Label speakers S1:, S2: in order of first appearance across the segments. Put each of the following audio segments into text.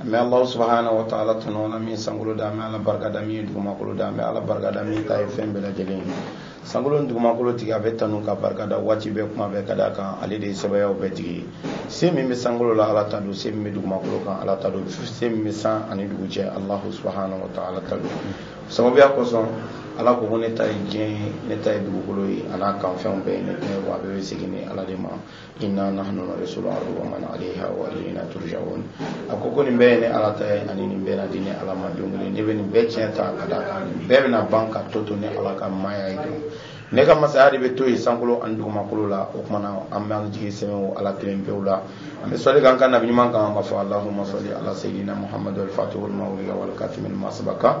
S1: an bɛ alahu subahana wa taala tanu na min sankolo da an bɛ ala barika da min ye dugumakolo da an bɛ ala barika da min ta ye fɛn bɛɛ lajɛlen ye sankolo ni dugumakolo tigi a bɛ tanu ka barika da waati bɛɛ kuma bɛɛ ka da kan ale de ye sebaayaw bɛɛ tigi ye se min bɛ sankolo la ala ta don se min bɛ dugumakolo kan ala ta don se min bɛ san ani dugu cɛ alahu subahana wa taala ta don sababuya kosɔn ala ko ko ne ta ye diɲɛ ye ne ta ye dugukolo ye a n'a kanfɛnw bɛɛ ye ne ta ye wa a bɛɛ bɛ segin ne ala de ma inna nahnu narisul ardi wa man alaiha wa ilayna turja'un a ko ko nin bɛɛ ye ne ala ta ye ani nin bɛɛ na di ne ala ma don kelen ne bɛ nin bɛɛ tiɲɛ ta ka da kan nin bɛɛ bɛna ban k'a tɔ to ne ala ka maaya ye don ne ka masaya de bɛ to yen sankolo ani dugumakolo la o kuma na an b'an jigi sɛmɛ o ala kelen pewu la an bɛ sɔli k'an ka nabi ɲuman kan ka fɔ alahuma sali ala seyidina muhamadu alfatihu lima ulika wal katimi lima sabaka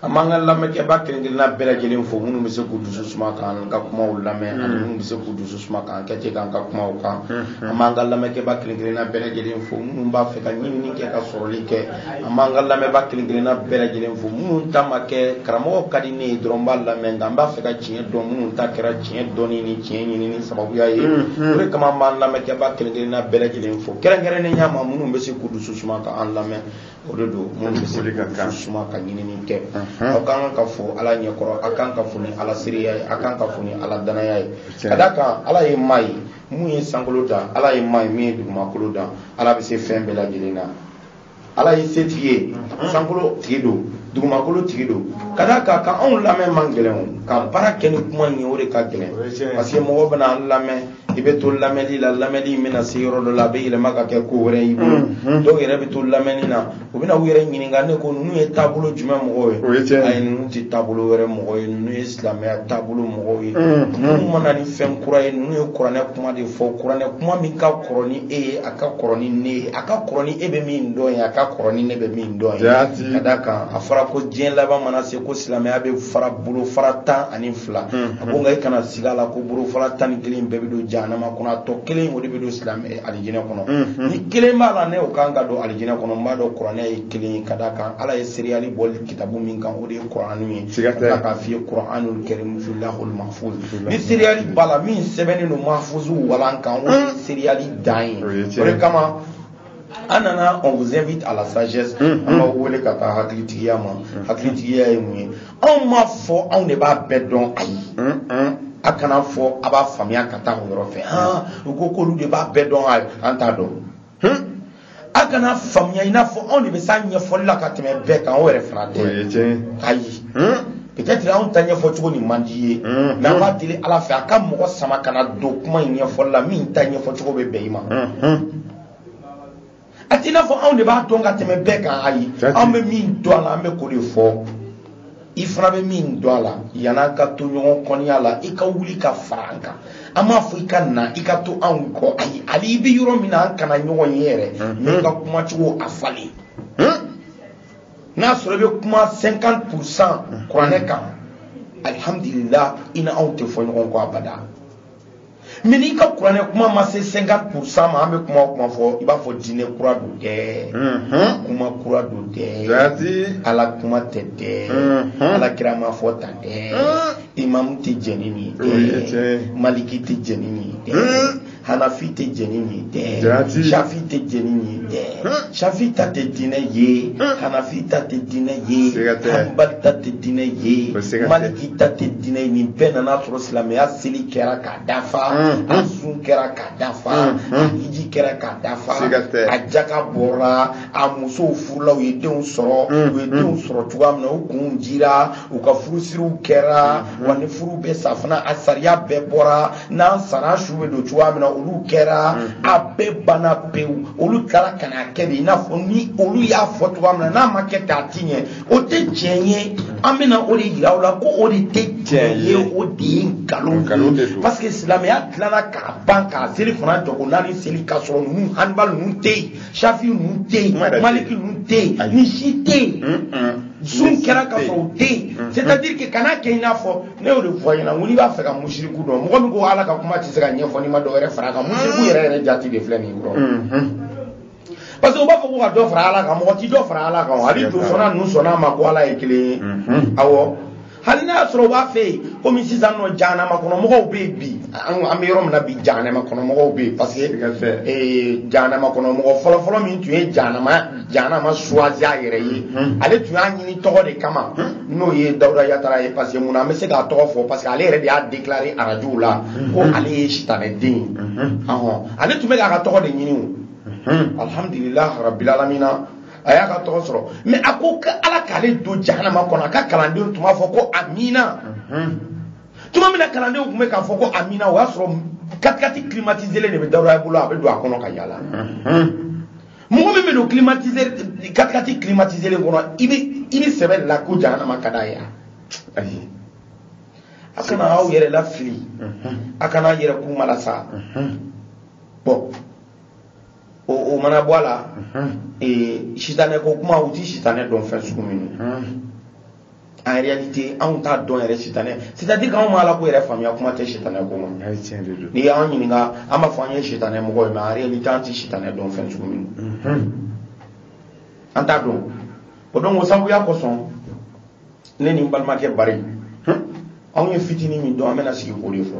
S1: an b'an ka lamɛnkɛba kelen-kelenna bɛɛ lajɛlen fo minnu bɛ se k'u dusu suma k'an ka kumaw lamɛn ani minnu bɛ se k'u dusu suma k'enquête k'an ka kumaw kan an b'an ka lamɛnkɛba kelen-kelenna bɛɛ lajɛlen fo minnu b'a fɛ ka ɲinini kɛ ka sɔrɔli kɛ an b'an ka lamɛnba kelen-kelenna bɛɛ lajɛlen fo minnu ta ma kɛ karamɔgɔ ka di ne ye dɔrɔn n b'a lamɛn nka n b'a fɛ ka tiɲɛ dɔn minnu ta kɛra tiɲɛ dɔnni ni tiɲɛ ɲinini sababuya ye o de kama an b'an lamɛnkɛba kelen-kelenna bɛɛ lajɛlen fo kɛrɛnkɛrɛnnenya ma minnu bɛ se k'u dusu suma k'an lamɛn o de don minnu bɛ se k'u suma ka ɲinini kɛ aw ka kan ka fo ala ɲɛkɔrɔ a kan ka fo ni ala seereya ye a kan ka fo ni ala danaya ye ka da kan ala ye maa ye mun ye sankolo dan ala ye maa ye min ye dugumakolo dan ala bɛ se fɛn bɛɛ lajɛlen na ala ye setigi ye sankolo tigi don dugumakolo tigi don ka da kan ka anw lamɛn man gɛlɛn ka baara kɛ ni kuma in ye o de ka gɛlɛn parce que mɔgɔw bɛna an lamɛn i bɛ to lamɛnli la lamɛnli in bɛna se yɔrɔ dɔ la a bɛ yɛlɛma ka kɛ ko wɛrɛ y'i bolo mhm. dɔw yɛrɛ bɛ to lamɛnni na u bɛna u yɛrɛ ɲininka ne ko ninnu ye taabolo jumɛn mɔgɔw ye o ye tiɲɛ ayi ninnu tɛ taabolo wɛrɛ mɔgɔ ye ninnu ye silamɛya taabolo mɔgɔw ye mhm. ninnu ma na ni fɛn kura ye ninnu ye kuranɛ kuma de fɔ kuranɛ kuma min ka kɔrɔ ni e ye a ka kɔrɔ ni ne ye a ka kɔrɔ ni e bɛ min dɔn ye a ka kɔrɔ ni ne bɛ min dɔn ye ka d'a kan a fɔra ko diɲɛ laban mana se ko silamɛya bɛ fara bolofara tan ani fila mhm. a ko nka i kana sig'a la ko bolofara tan ni kelen bɛɛ bɛ don jahanama kɔnɔ a tɔ kelen o de bɛ don silamɛ alijinɛ kɔnɔ mm-hmm. ni kelen b'a la n'o kan ka don alijinɛ kɔnɔ n b'a dɔn kuranɛ ye kelen ye ka d'a kan ala ye seereyali bɔ kitabu min kan o de ye kuranu ye ala k'a f'i ye kuranu karim fi lawhul mahfuz ni seereyali b'a la min sɛbɛnnen don mahfuzu walan kan o ye mm. seereyali dan ye o de kama an nana on vous invite à la sagesse mm-hmm. an b'aw wele ka taa hakilitigiya ma mm-hmm. hakilitigiya ye mun ye anw m'a fɔ anw de b'a bɛɛ dɔn ayi mm-hmm. a kana fɔ a b'a faamuya ka taa o yɔrɔ fɛ han u ko k'olu de b'a bɛɛ dɔn ayi an t'a dɔn hmm? a kana faamuya i n'a fɔ anw de bɛ s'a ɲɛfɔli la ka tɛmɛ bɛɛ kan o yɛrɛ fana tɛ ayi hmm? peut-être anw ta ɲɛfɔ cogo nin man d'i ye mm-hmm. mais an b'a deli ala fɛ a ka mɔgɔ sama ka na don kuma in ɲɛfɔli la min ta ɲɛfɔ cogo bɛ bɛn i ma mm-hmm. a t'i n'a fɔ anw de b'a dɔn ka tɛmɛ bɛɛ kan ayi an bɛ min dɔn a la an bɛ k'o de fɔ i fana bɛ min dɔn a la yann'an ka to ɲɔgɔn kɔniya la i ka wuli ka fara an kan an m'a fɔ i ka na i ka to anw kɔ ayi hali i bɛ yɔrɔ min na an kana ɲɔgɔn ye yɛrɛ n'an ka kuma cogo a falen n'a sɔrɔ i bɛ kuma cinquante pour cent kuranɛ kan alihamudulila i ni anw tɛ fɔ ɲɔgɔn kɔ abada. mais n'i ka kuranɛ kuma ma se 50 pourcent ma an bɛ kuma o kuma fɔ i b'a fɔ diinɛ kura don dɛ mhm. kuma kura don dɛ ala kuma tɛ dɛ mhm. ala kira m'a fɔ tan dɛ mhm. imamu tɛ jɛn ni nin dɛ maliki tɛ jɛn ni nin dɛ hanafi tɛ jɛn ni nin dɛ shafi tɛ jɛn ni nin dɛ safi ta tɛ diinɛ ye hanafi ta tɛ diinɛ ye hanbali ta tɛ diinɛ ye maliki ta tɛ diinɛ ye nin bɛɛ nan'a sɔrɔ silamɛya seli kɛra k'a dafa a sun kɛra k'a dafa a hiji kɛra k'a dafa a jaka bɔra a musow furula u ye denw sɔrɔ u ye denw sɔrɔ cogoya min na u kunw dira u ka furusiriw kɛra wa ni furu bɛ sa fana a sariya bɛɛ bɔra n'an sara su bɛ don cogoya min na olu kɛra mm-hmm. a bɛɛ banna pewu olu tilala ka na kɛ de i n'a fɔ ni olu y'a fɔ cogoya min na n'a ma kɛ ten a ti ɲɛ o tɛ tiɲɛ ye an bɛna o de yira u la ko o de tɛ tiɲɛ ye o de ye nkalon ye parce que silamɛya dilanna k'a ban k'a seli fana jɔko naani seli k'a sɔrɔ ninnu hanbali ninnu tɛ yen safi ninnu tɛ yen maliki ninnu tɛ yen nin si tɛ yen sun kɛra k'a sɔrɔ u tɛ yen c'est à dire que kana kɛ i n'a fɔ ne y'o de fɔ a ɲɛna n ko n'i b'a fɛ ka musiriku dɔn mɔgɔ min ko ala ka kuma tɛ se ka ɲɛfɔ n'i ma dɔ wɛrɛ fara a kan musiriku yɛrɛ yɛrɛ jati de filɛ nin ye kɔrɔ parce que u b'a fɔ ko ka dɔ fara ala kan mɔgɔ ti dɔ fara ala kan o hali josɔnna ninnu sɔnna a ma ko ala ye kelen ye awɔ hali n'a y'a sɔrɔ u b'a fɛ yen komi sisan nɔ jahanama kɔnɔ mɔgɔw bɛ yen bi an bɛ yɔrɔ min na bi jahanama kɔnɔ mɔgɔw bɛ yen parce que jahanama kɔnɔ mɔgɔ fɔlɔfɔlɔ min tun ye jahanama jahanama choisi a yɛrɛ ye hmm. ale tun y'a ɲini tɔgɔ de kama hmm. n'o ye dawuda yatara ye parce que mun na an bɛ se k'a tɔgɔ fɔ parce que ale yɛrɛ de y'a déclaré arajow la hmm. ko ale ye sitanɛ den ye ale tun bɛ k'a ka tɔgɔ de ɲini o alhamdulilah rabil alamina a y'a ka tɔgɔ sɔrɔ mais a ko ko ala k'ale don jahanama kɔnɔ a ka kalandenw tun b'a fɔ ko amina tuma min na kalandenw tun bɛ k'a fɔ ko amina o y'a sɔrɔ katikati climatiselen de bɛ dawuda bolo a bɛ don a kɔnɔ ka yaala mɔgɔ min bɛ don climatiseur katikati climatiselen kɔnɔ i bɛ i bɛ sɛbɛ de la ko jahanama ka d'a ye ayi a kana aw yɛrɛ lafili a kana a yɛrɛ kun malasa bon o o mana bɔ a la ee sitanɛ ko kuma u ti sitanɛ dɔn fɛn sugu min ye en réalité anw t'a dɔn yɛrɛ sitanɛ c'est à dire k'anw ma ala ko yɛrɛ faamuya kuma tɛ sitanɛ ko ma n'i y'an ɲininka an b'a fɔ an ye sitanɛ mɔgɔ ye mais en réalité an tɛ sitanɛ dɔn fɛn sugu min mhm. an t'a dɔn o donc o sababuya kosɔn ne ni n balimakɛ bari anw ye fitinin min dɔn an bɛna sigi k'o de fɔ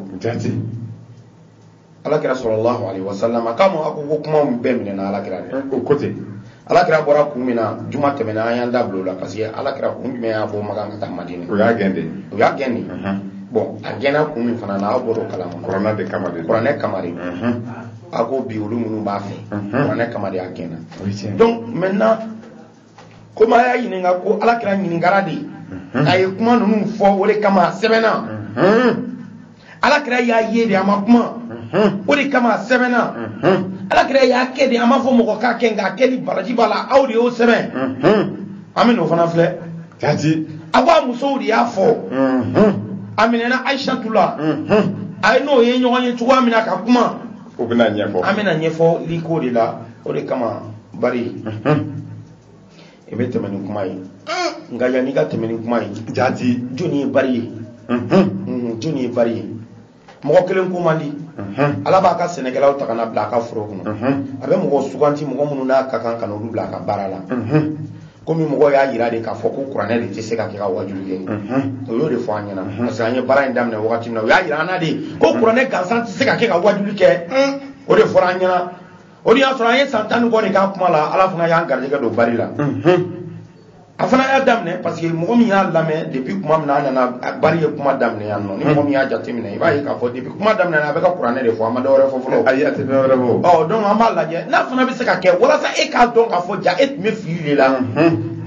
S1: alakira sallallahu alaihi wasallam k'a ma ko ko kuma bɛɛ minɛna alakira de o ko ten alakira bɔra kun min na juma tɛmɛna an y'an da bila o la parce que alakira kun jumɛn y'a bɔ makan ka taa madina o y'a gɛn de o y'a gɛn de bon a gɛnna kun min fana na aw bɔr'o kalama kuranɛ de kama de kuranɛ kama de a ko bi olu minnu b'a fɛ kuranɛ kama de a gɛnna donc maintenant komi a y'a ɲininka ko ala kira ɲininkara de mhm. a ye kuma ninnu fɔ o de kama a sɛbɛnna mhm. ala kira y'a ye de a ma kuma mhm. o de kama a sɛbɛnna ala kira y'a kɛ de a m'a fɔ mɔgɔ k'a kɛ nka a kɛli baraji b'a la aw de y'o sɛbɛn an bɛ n'o fana filɛ jati a ko a musow de y'a fɔ a minɛna ayisatu la a ye n'o ye ɲɔgɔn ye cogoya min na ka kuma o bɛna ɲɛfɔ an bɛna ɲɛfɔli ko de la o de kama bari i bɛ tɛmɛ ni kuma ye nka yanni i ka tɛmɛ ni kuma ye jati jɔni ye bari ye jɔni ye bari ye mɔgɔ kelen ko man di ala b'a ka sɛnɛkɛlaw ta ka na bila a ka foro kɔnɔ a bɛ mɔgɔ suganti mɔgɔ minnu n'a ka kan ka n'olu bila a ka baara la komi mɔgɔ y'a jira de k'a fɔ ko kuranɛ de tɛ se ka kɛ ka wajuli kɛ o y'o de fɔ an ɲɛna parce que an ye baara in daminɛ wagati min na o y'a jira an na de ko kuranɛ gansan tɛ se ka kɛ ka wajuli kɛ o de fɔra an ɲɛna o dun y'a sɔrɔ an ye san tan ni kɔ de k'a kuma la ala fana y'an garijɛgɛ don bari la a fana y'a daminɛ parce que mɔgɔ min y'a lamɛn depuis kuma min na a nana bari ye kuma daminɛ yan nɔ ni mɔgɔ min y'a jateminɛ i b'a ye k'a fɔ depuis kuma daminɛ na a bɛ ka kuranɛ de fɔ a ma dɔ wɛrɛ fɔ fɔlɔ ayi a tɛ dɔ wɛrɛ fɔ ɔ donc an b'a lajɛ n'a fana bɛ se ka kɛ walasa e k'a dɔn k'a fɔ ja e tun bɛ fili de la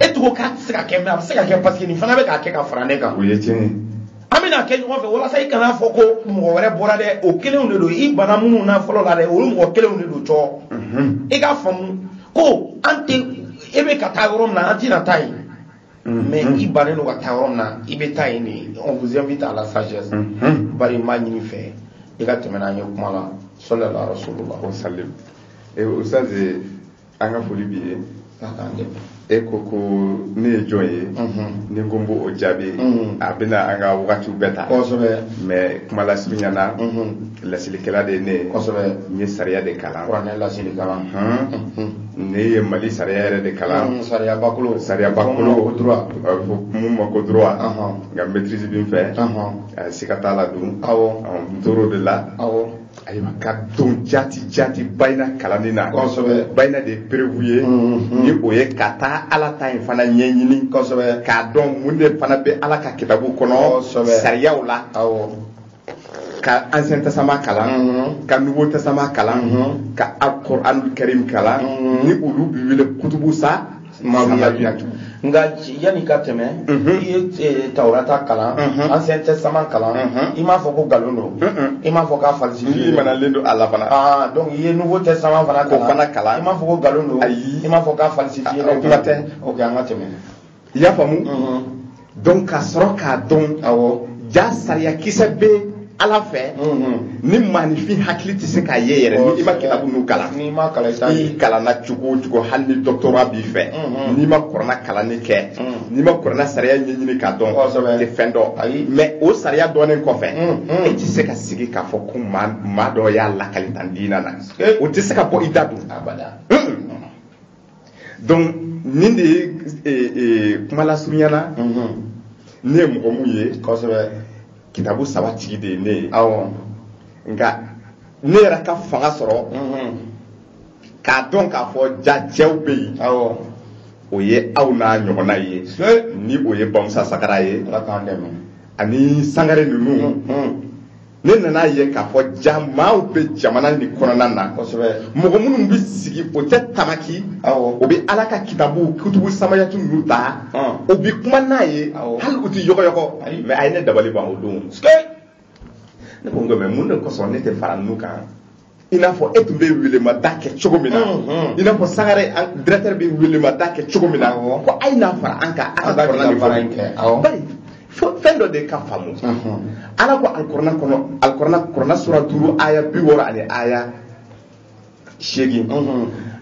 S1: e tun ko k'a tɛ se ka kɛ mais a bɛ se ka kɛ parce que nin fana bɛ k'a kɛ ka fara ne kan o ye tiɲɛ ye an bɛna kɛ ɲɔgɔn fɛ walasa i kan'a fɔ ko mɔgɔ wɛrɛ bɔra dɛ o kelenw de don i banna minnu na fɔlɔ la dɛ olu mɔgɔ kelenw de don cɔɔ mhm. i k'a faamu ko an tɛ e bɛ ka taa yɔrɔ min na an tɛna taa yen mhm. mais i bannen don ka taa yɔrɔ min na i bɛ taa yen de on vous invite à la sagesse mhm. bari n b'a ɲini i fɛ i ka tɛmɛ n'an ye kuma la sallallahu alaihi wa sallam. o salim ee eh, ustaz an ka foli b'i ye e ko ko ne ye jɔn ye ni n ko n b'o jaabi a bɛna an ka wagatiw bɛɛ ta mais kuma lasurunya na laselikɛla de ye ne ye n ye sariya de kalan ne ye mali sariya yɛrɛ de kalan sariyabakolo sariyabakolo mun ma ko droit n ka maîtrise bɛ n fɛ siga t'a la donc n tor'o de la ayiwa ka don jati jati bayina kalanni na kosɛbɛ bayina de ye preuve ye mm-hmm. ni o ye ka taa ala ta in fana ɲɛɲini kosɛbɛ k'a dɔn mun de fana bɛ ala ka kitabu kɔnɔ sariyaw la ka ancien testament kalan mm -hmm. ka nouveau testament kalan mm -hmm. ka alquranul karim kalan mm -hmm. ni olu bi wele kutubu sa nka yanni ka tɛmɛ i ye eh, tawurata kalan ancien testament kalan i m'a fɔ ko nkalon don i m'a fɔ k'a falsifié i manalen don a la fana ah, donc i ye nouveau testament fana kalan fana kalan i m'a fɔ ko nkalon don i m'a fɔ k'a falsifié o kuma tɛ ok an ka tɛmɛ i y'a faamu
S2: donc ka sɔrɔ k'a dɔn awɔ ja sariyakisɛ bɛ ala fɛ ni maanifin hakili tɛ se k'a ye yɛrɛ ni i ma kitabu ninnu kalan n'i ma kalan i t'a ye i kalanna cogo o cogo hali ni doctorat b'i fɛ n'i ma kurana kalanni kɛ n'i ma kurana sariya ɲɛɲini k'a dɔn Kosɛbɛ. i tɛ fɛn dɔn Ayi. mais o sariya dɔnnen kɔfɛ e tɛ se ka sigi k'a fɔ ko maa maa dɔ y'a lakali tan diina na Ee. o tɛ se ka bɔ i da dun abada donc nin de ye e, e, kuma lasurunyana mhm. ne ye mɔgɔ mun ye kosɛbɛ kitabu saba tigi de ye ne ye awɔ nka ne yɛrɛ ka fanga sɔrɔ mhm. k'a dɔn k'a fɔ ja cɛw bɛ yen awɔ o ye aw n'a ɲɔgɔnna ye ni o ye bamusa sagara ye ani sangare ninnu mhm. ne nana a ye k'a fɔ ja maaw bɛ jamana nin kɔnɔna na mɔgɔ minnu bɛ sigi o tɛ tamaki o bɛ ala ka kitabu kutubu samayatu ninnu ta o bɛ kuma n'a ye hali u tɛ yɔgɔyɔgɔ mais a ye ne dabali ban o don ne ko nka mais mun de kosɔn ne tɛ fara ninnu kan i n'a fɔ e tun bɛ welemada kɛ cogo min na i n'a fɔ sangare directeur bɛ welemada kɛ cogo min na ko a ye na fara an kan an ka kurana baara in kɛ bari fɛn dɔ de ka faamu ala ko alikurana kɔnɔ alikurana kɔnɔna sura duuru aya bi wɔɔrɔ ani aya seegin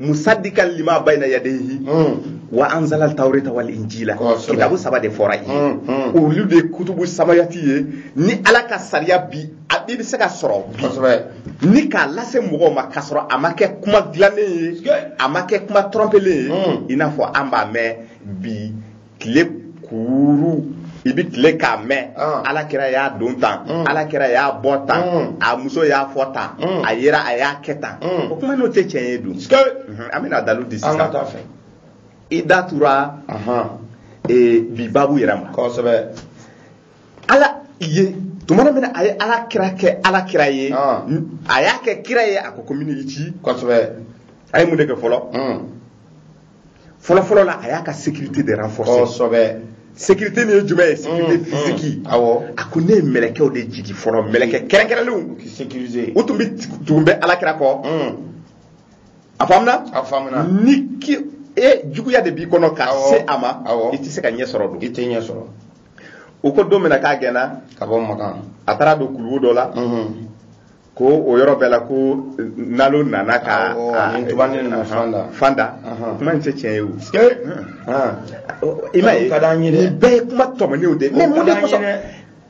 S2: musadikan lima bayna yadayhi hmm. wa anzalal tawrata wal injila kitabu saba de fɔra yen hmm, hmm. olu de kutubu samayati ye ni ala ka sariya bi a bɛɛ bɛ se ka sɔrɔ bi ni k'a lase mɔgɔw ma k'a sɔrɔ a ma kɛ kuma dilannen ye a ma kɛ kuma tɔrɔnpelen ye i n'a fɔ an b'a mɛn bi tile kuuru i bɛ tile k'a mɛn ah. ala kira y'a don tan mm. ala kira y'a bɔ tan mm. a muso y'a fɔ tan mm. a yera a y'a kɛ tan o kuma n'o tɛ tiɲɛ ye dun mhm. an bɛna dalu di sisan i da tura e, bi babu yɛrɛ ma kosɛbɛ ala ye tuma min na a ye ala kira kɛ ala kira ye ah. a y'a kɛ kira ye a ko komi n y'i ci kosɛbɛ a ye mun de kɛ fɔlɔ fɔlɔfɔlɔ la a y'a ka sécurité de renforcer kosɛbɛ sécurité nin ye jumɛn ye sécurité physique awɔ a ko ne ye mɛlɛkɛw de jigi fɔlɔ mɛlɛkɛ kɛrɛnkɛrɛnlenw k'i sécuriser u tun bɛ tun bɛ alakira kɔ a faamuna a faamuna ni ki e juguya de b'i kɔnɔ ka Awɔ. se a ma Awɔ. i tɛ se ka ɲɛ sɔrɔ dun i tɛ ɲɛ sɔrɔ o ko don min na k'a gɛnna ka bɔ makan a taara don kuluwo dɔ la Mhm. ko o yɔrɔ bɛɛ la ko nalo nana ka fan da kuma in tɛ tiɲɛ ye o i ma ye nin bɛɛ ye kuma tɔmɔnenw de mais mun de kosɔn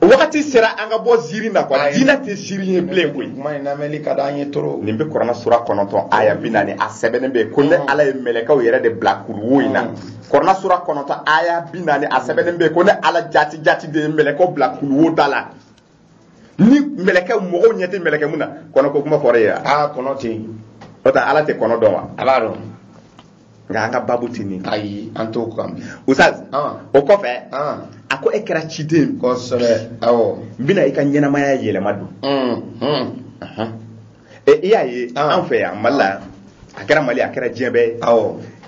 S2: wagati sera an ka bɔ ziiri na quoi diinɛ tɛ ziiri ye bilen koyi kuma in lamɛnni ka d'an ye trop nin bɛ kurana sura kɔnɔntɔn aya bi naani a sɛbɛnnen bɛ ko ne ala ye mɛlɛkɛw yɛrɛ de bila kuluwo in na kurana sura kɔnɔntɔn aya bi naani a sɛbɛnnen bɛ ko ne ala jati jati de ye mɛlɛkɛw bila kuluwo da la ni mɛlɛkɛ mɔgɔw ɲɛ tɛ mɛlɛkɛ mun na kɔnɔ ko kuma fɔra yen wa aa kɔnɔ tɛ yen o tɛ ala tɛ kɔnɔ dɔn wa a b'a dɔn nka an ka babu tɛ nin ayi an t'o kan bi Ustaz Ah. o kɔfɛ Ah. a ko e kɛra ciden kosɛbɛ awɔ n bɛna i ka ɲɛnamaya yɛlɛma dun Mm, mm. Ahan. ɛ i y'a ye ah. an fɛ yan mali la yan a kɛra mali ye a kɛra diɲɛ bɛɛ ye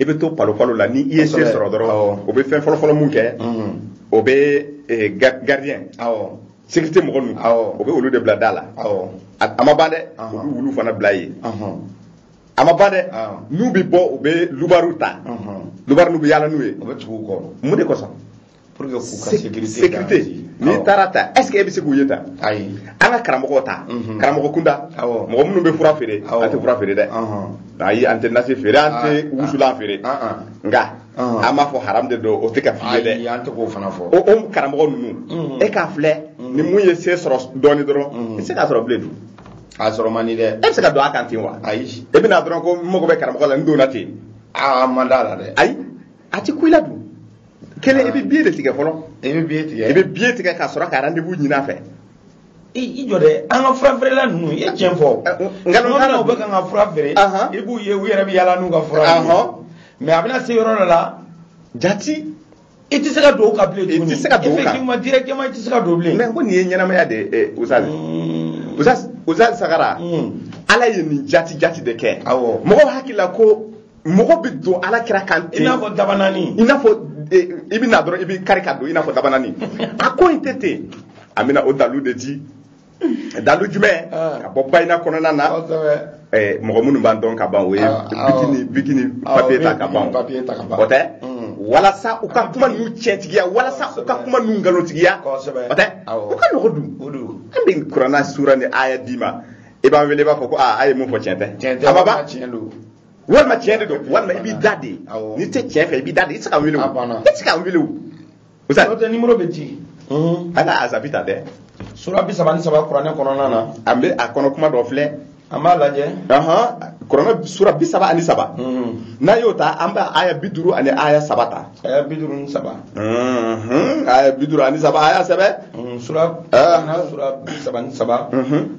S2: i bɛ to palopalo la ni i ye se sɔrɔ dɔrɔn o bɛ fɛn fɔlɔfɔlɔ mun kɛ mm-hmm. o bɛ eh, gardien sécurité mɔgɔ ninnu o bɛ olu de bila da la a ma ban dɛ u bɛ wulu fana bila yen a ma ban dɛ n'u bɛ bɔ u bɛ loubards ta loubards n'u bɛ yaala n'u ye mun de kosɔn pour que k'u ka sécurité sécurité n'i taara ta est ce que e bɛ se k'u ye ta ayi an ka karamɔgɔw ta mhm. karamɔgɔ kunda mɔgɔ minnu bɛ fura feere an tɛ fura feere dɛ ayi an tɛ nasi feere an tɛ ah, wusulan ah, feere ah, nka an m'a fɔ haram de don o tɛ ka f'i ye dɛ an tɛ k'o fana fɔ o o karamɔgɔ ninnu mhm. e k'a filɛ mhm. ni mun ye se sɔrɔ dɔɔni dɔrɔn i tɛ se k'a sɔrɔ bilen dun a sɔrɔ man di dɛ e bɛ se ka don a kan ten wa ayi e bɛ na dɔrɔn ko n mago bɛ karamɔgɔ la n donna ten aa man d'a la dɛ ayi a tɛ kun i la dun kelen i bɛ biye de tigɛ fɔlɔ i bɛ biye tigɛ i bɛ biye tigɛ ka sɔrɔ ka rendez-vous ɲini a fɛ i jɔ dɛ an ka fura feerela ninnu i ye tiɲɛ fɔ nkalontigɛla u bɛ kan ka fura feere i b'u ye u yɛrɛ bɛ yaala n'u ka fura ye mais a bɛna se yɔrɔ dɔ la jati i tɛ se ka don o kan bilen tuguni i tɛ se ka don o kan effectivement directement i tɛ se ka don bilen mais ko nin ye ɲɛnamaya de ye Ustaz Ustaz Ustaz Sagara ala ye nin jati jati de kɛ awɔ mɔgɔw hakili la ko mɔgɔ bɛ don ala kira kan ten i n'a fɔ
S1: dabanani
S2: i
S1: n'a
S2: fɔ eh, i bɛ na dɔrɔn i bɛ kari ka don i n'a fɔ dabanani a ko in tɛ ten an bɛna o dalu de di dalu jumɛn ah. ka bɔ bayina kɔnɔna na eh, mɔgɔ minnu b'an dɔn ka ban o ye ah, ah, biki ni biki ni papiye ta ka ban o tɛ mm. walasa u ka kuma ninnu tiɲɛtigiya walasa u ka kuma ninnu nkalontigiya o tɛ o ka nɔgɔn dun an bɛ kurana sura ni aya d'i ma i b'an wele i b'a fɔ ko aa a ye mun fɔ tiɲɛ tɛ a ma ban walima tiɲɛ de don walima i b'i da de n'i tɛ tiɲɛ fɛ i b'i da de i tɛ se ka wuli o i tɛ se ka wuli o. o tɛ nimoro bɛ ci.
S1: ala azabi
S2: ta dɛ. sura bi saba
S1: ni saba kuranɛ kɔnɔna na. an bɛ a kɔnɔ
S2: kuma dɔ filɛ. an b'a
S1: lajɛ. kuranɛ
S2: sura bi saba ani saba. n'an y'o ta an bɛ aya bi duuru ani aya saba ta. aya bi duuru ni
S1: saba
S2: Mhm. aya bi duuru ani saba aya saba Mm, sura Ah.
S1: na sura bi saba ni saba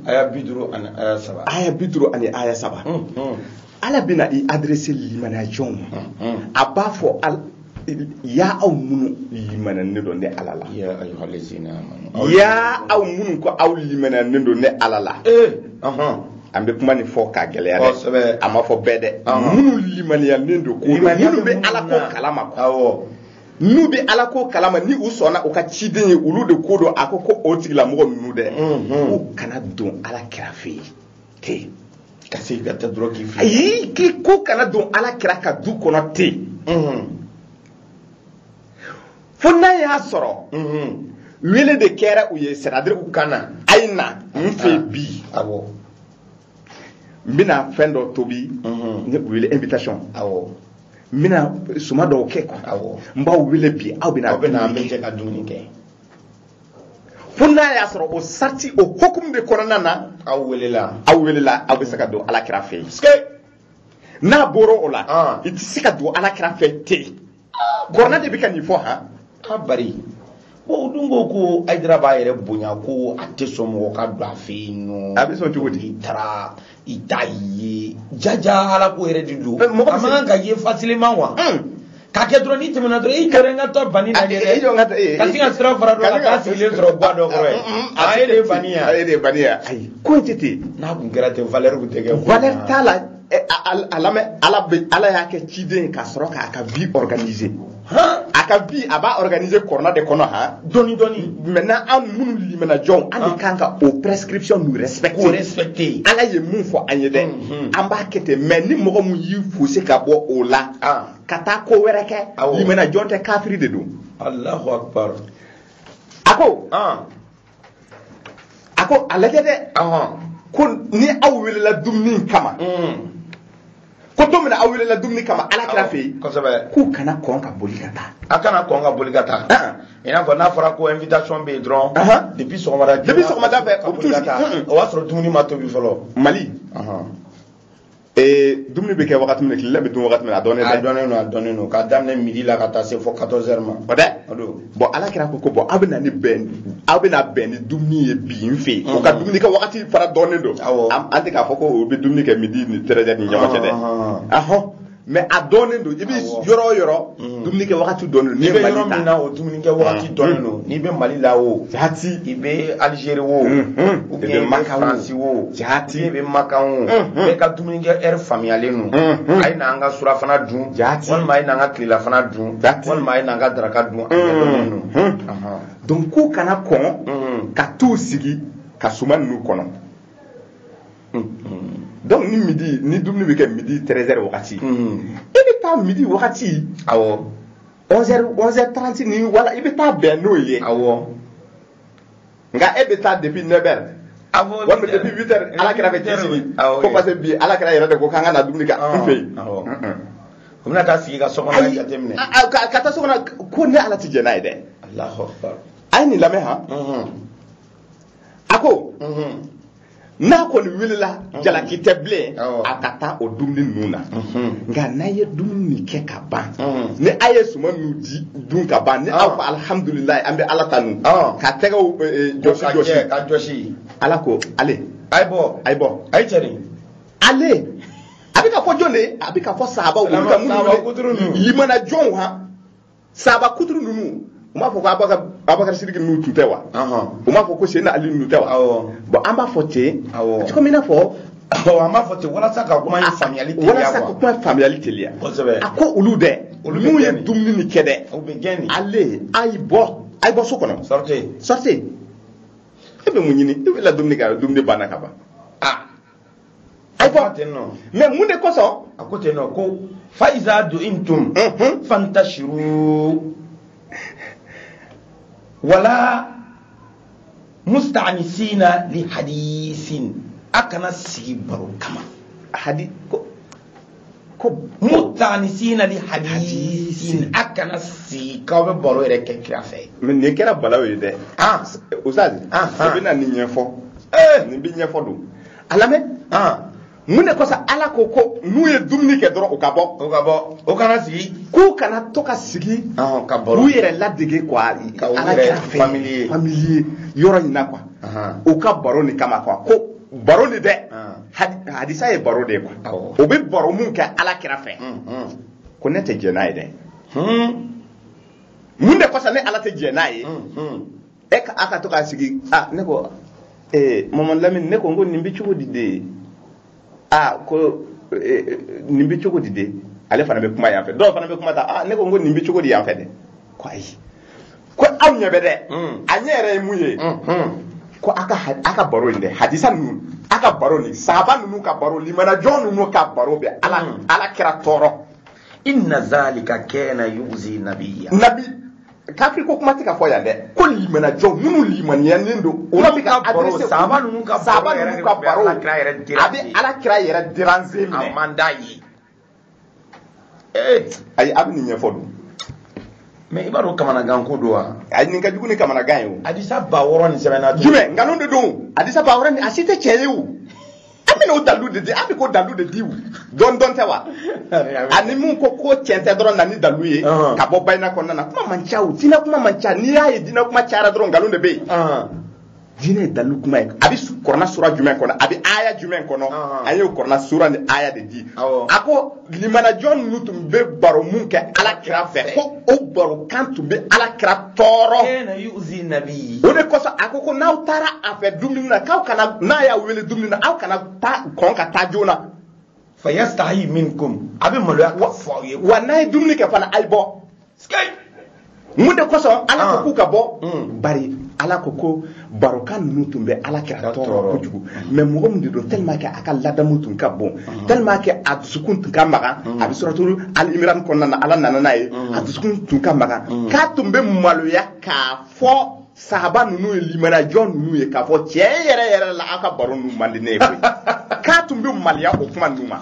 S1: aya bi duuru ani aya saba aya bi duuru ani aya
S2: saba Mm, mm, ala bɛna i adresser limaniya jɔnw ma mm. a b'a fɔ al- ya aw minnu limaniyalen don ne ala la ya ayyuhal ladzina
S1: amanu ya aw minnu
S2: ko aw limaniyalen don ne ala la Eh, aha. an bɛ kuma nin fɔ k'a gɛlɛya dɛ a ma fɔ bɛɛ dɛ minnu limaniyalen don ko minnu bɛ ala ko kalama n'u bɛ ala ko kalama ni u sɔnna u ka ciden ye olu de ko don a ko ko o tigilamɔgɔ ninnu dɛ mhm. u kana don ala kira fɛ yen ten ka sin
S1: ka taa dɔrɔn k'i fili ayi k'i ko kana
S2: don ala kira ka du kɔnɔ ten mhm. fo n'a y'a sɔrɔ wele de kɛra u ye c'est-à-dire u ka na a ye na n fɛ ah. bi awɔ n bɛna fɛn dɔ tobi ne wele invitation awɔ n bɛna suma dɔw kɛ quoi awɔ n b'aw wele bi aw bɛna aw bɛna an bɛ jɛ ka
S1: dumuni
S2: kɛ fo n'a y'a sɔrɔ o sariti o hukumu de kɔnɔna na aw welela
S1: aw welela aw bɛ se ka
S2: don alakira fɛ yen n'a bɔra o la ah. i tɛ se ka don alakira fɛ ten kuranɛ de bɛ ka nin fɔ han a
S1: bari bon o dun ko ko ayidara b'a yɛrɛ bonya ko a tɛ sɔn mɔgɔ ka don a fɛ yen nɔ a bɛ sɔn cogo di i taara
S2: i t'a
S1: ye jaja ala ko yɛrɛ de don a man kan ka ye facilement wa k'a kɛ dɔrɔn n'i tɛmɛna dɔrɔn i kɛra n ka taa bani lajɛ dɛ ka sin ka sira fara dɔ la k'a sigilen sɔrɔ guwa dɔ kɔrɔ yen a ye de ye bani ye a ye de ye bani ye ayi
S2: ko in tɛ ten n'a tun kɛra ten valeur
S1: tun tɛ kɛ valeur t'a la
S2: a lamɛn ala bɛ ala y'a kɛ ciden ka sɔrɔ k'a ka vie organiser a ka vie a b'a organiser kuranɛ de kɔnɔ han dɔɔni dɔɔni
S1: maintenant an minnu
S2: limana jɔnw an de kan ka o prescription ninnu respecter k'o respecter
S1: ala ye min fɔ
S2: an ye dɛ an b'a kɛ ten mais ni mɔgɔ min y'i fosi ka bɔ o la ka taa ko wɛrɛ kɛ limana jɔn tɛ kafiri de don alahu akbar
S1: a
S2: ko a ko a lajɛ dɛ ko ni aw welela dumuni kama ko don min na aw welela dumuni kama ala kira fɛ yen k'u kana kɔn ka boli ka taa a kana kɔn ka boli ka
S1: taa i n'a fɔ n'a fɔra ko invitation bɛ yen dɔrɔn depuis sɔgɔmada depuis sɔgɔmada fɛ o bɛ t'u sigi o b'a sɔrɔ dumuni ma tobi fɔlɔ mali
S2: ee dumuni bɛ kɛ wagati min na tilela bɛ dun wagati min na a dɔnnen a dɔnnen don a dɔnnen
S1: don k'a daminɛ midi la ka taa se fo 14 heures ma o dɛ o don
S2: bon ala kira ko ko bon aw bɛna ni bɛn aw bɛna bɛn ni dumuni ye bi n fɛ yen o ka dumuni kɛ wagati fana dɔnnen don Awɔ. an an tɛ k'a fɔ ko o bɛ dumuni kɛ midi ni 13 heures ni ɲɔgɔn cɛ dɛ Ɔhɔn. ahɔn mais a dɔnnen don i bɛ Awɔ. yɔrɔ o yɔrɔ Mm. dumuni kɛ wagati dɔnnen don n'i bɛ yɔrɔ min na
S1: o dumuni kɛ wagati mm. dɔnnen don n'i bɛ mali la wo jati i
S2: bɛ alizeri
S1: wo mm-hmm. ou bien i bɛ faransi wo jati i bɛ makan wo mm-hmm. bɛɛ ka dumuni kɛ heure faamuyalen don mm-hmm. a ye na an ka surafana dun jati walima a ye na an ka tilelafana dun jati walima a ye na an ka daraka dun a dɔnnen don donc k'u
S2: kana kɔn ka t'u sigi ka suma ninnu kɔnɔ donc ni midi ni dumuni bɛ kɛ midi 13 heures wagati e bɛ taa midi wagati awɔ 11 heures 11 heures 30 ni voilà i bɛ taa bɛn n'o ye awɔ nka e bɛ taa depuis 9 heures awɔ walima depuis 8 heures ala kira fɛ t'i sigi awɔ ko parce que bi ala kira yɛrɛ de ko k'an ka na dumuni kɛ an fɛ yen
S1: awɔ u bɛna taa sigi ka so kɔnɔ ayi jateminɛ a- a- ka ka taa so kɔnɔ
S2: ko ne ala tɛ jɛn n'a ye dɛ alahu
S1: akbar a ye nin lamɛn han
S2: a ko n'a kɔni welela jalaki tɛ bilen a ka taa o dumuni ninnu na nka n'a ye dumuni min kɛ ka ban ni a ye suma ninnu dun ka ban ni aw ko alihamudulilayi an bɛ ala tanu ka tɛgɛw eh, eh, jɔsi jɔsi ka jɔsi ala ko ale a ye bɔ a ye bɔ a ye cɛrin
S1: ale
S2: a bɛ ka fɔ jɔn de ye a bɛ ka fɔ sahabaw olu ka minnu wele limaniya jɔnw han sahaba kuturu ninnu u m'a fɔ ko abakari sidiki ninnu tun tɛ wa u m'a fɔ ko seyidina ali ninnu tɛ wa bon an b'a fɔ ten cogo min na fɔ
S1: an b'a fɔ ten walasa ka kuma faamuyali teliya walasa ka kuma
S2: faamuyali teliya a ko
S1: olu
S2: dɛ n'u ye dumuni ni kɛ dɛ
S1: ale a y'i
S2: bɔ a y'i bɔ so kɔnɔ sortez sortez e bɛ mun ɲini e bɛ la dumuni kɛ a dumuni banna ka ban ayiwa mais mun de kosɔn a ko ten nɔ
S1: ko fa iza ta'imtum mhm. fantashiru wala mustaanisina li hadisin a kana sigi baro kama hadi ko mustaanisina li hadisin a kana sigi k'aw bɛ baro yɛrɛ kɛ kira fɛ mais nin kɛra balaw ye
S2: dɛ ustaz i bɛna nin ɲɛfɔ nin bɛ ɲɛfɔ don a lamɛn mun de kosɔn ala ko ko n'u ye dumuni kɛ dɔrɔn u ka bɔ u ka bɔ o kana
S1: sigi k'u kana to
S2: ka sigi ka baro u
S1: yɛrɛ
S2: ladege quoi ala kira fɛ familier yɔrɔ in na quoi u ka baro nin kama quoi ko baro nin dɛ hadisa ye baro de ye quoi o bɛ baro mun kɛ ala kira fɛ ko ne tɛ jɛn n'a ye dɛ mun de kosɔn ne ala tɛ jɛn n'a ye e ka a ka to k'a sigi a ne ko ee mamadu lamini ne ko n ko nin bɛ cogo di de a ko nin bɛ cogo di de ale fana bɛ kuma yan fɛ dɔw fana bɛ kuma ta a ne ko n ko nin bɛ cogo di yan fɛ dɛ ko ayi ko aw ɲɛ bɛ dɛ a ɲɛ yɛrɛ ye mun ye ko a ka baro in dɛ hadisa ninnu a ka baro nin sahaba ninnu ka baro limanajɔn ninnu ka baro bɛ ala ala kira tɔɔrɔ inna
S1: zalika kana yuzi nabiyya nabi
S2: kafiri ko kuma tɛ ka fɔ yan dɛ ko limanajɔn minnu limaniyanen don olu bɛ ka adresser sahaba
S1: ninnu ka baro a
S2: bɛ ala kira yɛrɛ déranger minɛ a man d'a ye ee ayi a bɛ nin ɲɛfɔ
S1: dun mais i b'a dɔn kamanagan ko don wa ayi nin ka jugu ni kamanagan
S2: ye o hadisa ba wɔɔrɔ nin
S1: sɛbɛnna jumɛn nkalon de don
S2: hadisa ba wɔɔrɔ nin a si tɛ cɛn ye o an bɛna o dalu de di an bɛ k'o dalu de di o dɔn dɔn tɛ wa ani mun ko ko cɛn tɛ dɔrɔn na ni dalu ye ka bɔ bayina kɔnɔna na kuma man ca o diinɛ kuma man ca n'i y'a ye diinɛ kuma cayara dɔrɔn nkalon de bɛ yen diinɛ ye dalu kuma ye a bɛ kɔrɔna sura jumɛn kɔnɔ a bɛ aya jumɛn kɔnɔ an y'o kɔrɔna sura ni aya de di a ko limanajɔn ninnu tun bɛ baro mun kɛ ala kira fɛ ko o barokan tun bɛ ala kira tɔɔrɔ o de kosɔn a ko ko n'aw taara a fɛ dumuni na k'aw kana n'a y'a wele dumuni na aw kana taa kɔn ka taa joona fa
S1: yastahi minkum a bɛ maloya k'a fɔ aw ye wa n'a ye dumuni kɛ
S2: fana a ye bɔ mun de kosɔn ala ko ah. k'u ka bɔ hmm. bari ala ko ko barokan ninnu tun bɛ ala kira tɔɔrɔ kojugu hmm. mais mɔgɔ min de don tellement que a ka ladamu tun ka bon hmm. tellement que a dusukun tun ka magan a bɛ suratul ali imran kɔnɔna na ala nana n'a ye a dusukun tun ka magan k'a tun bɛ maloya k'a fɔ sahaba ninnu ye limanajɔn ninnu ye k'a fɔ tiɲɛ yɛrɛ yɛrɛ la aw ka baro ninnu man di ne ye koyi k'a tun bɛ maloya o kuma ninnu ma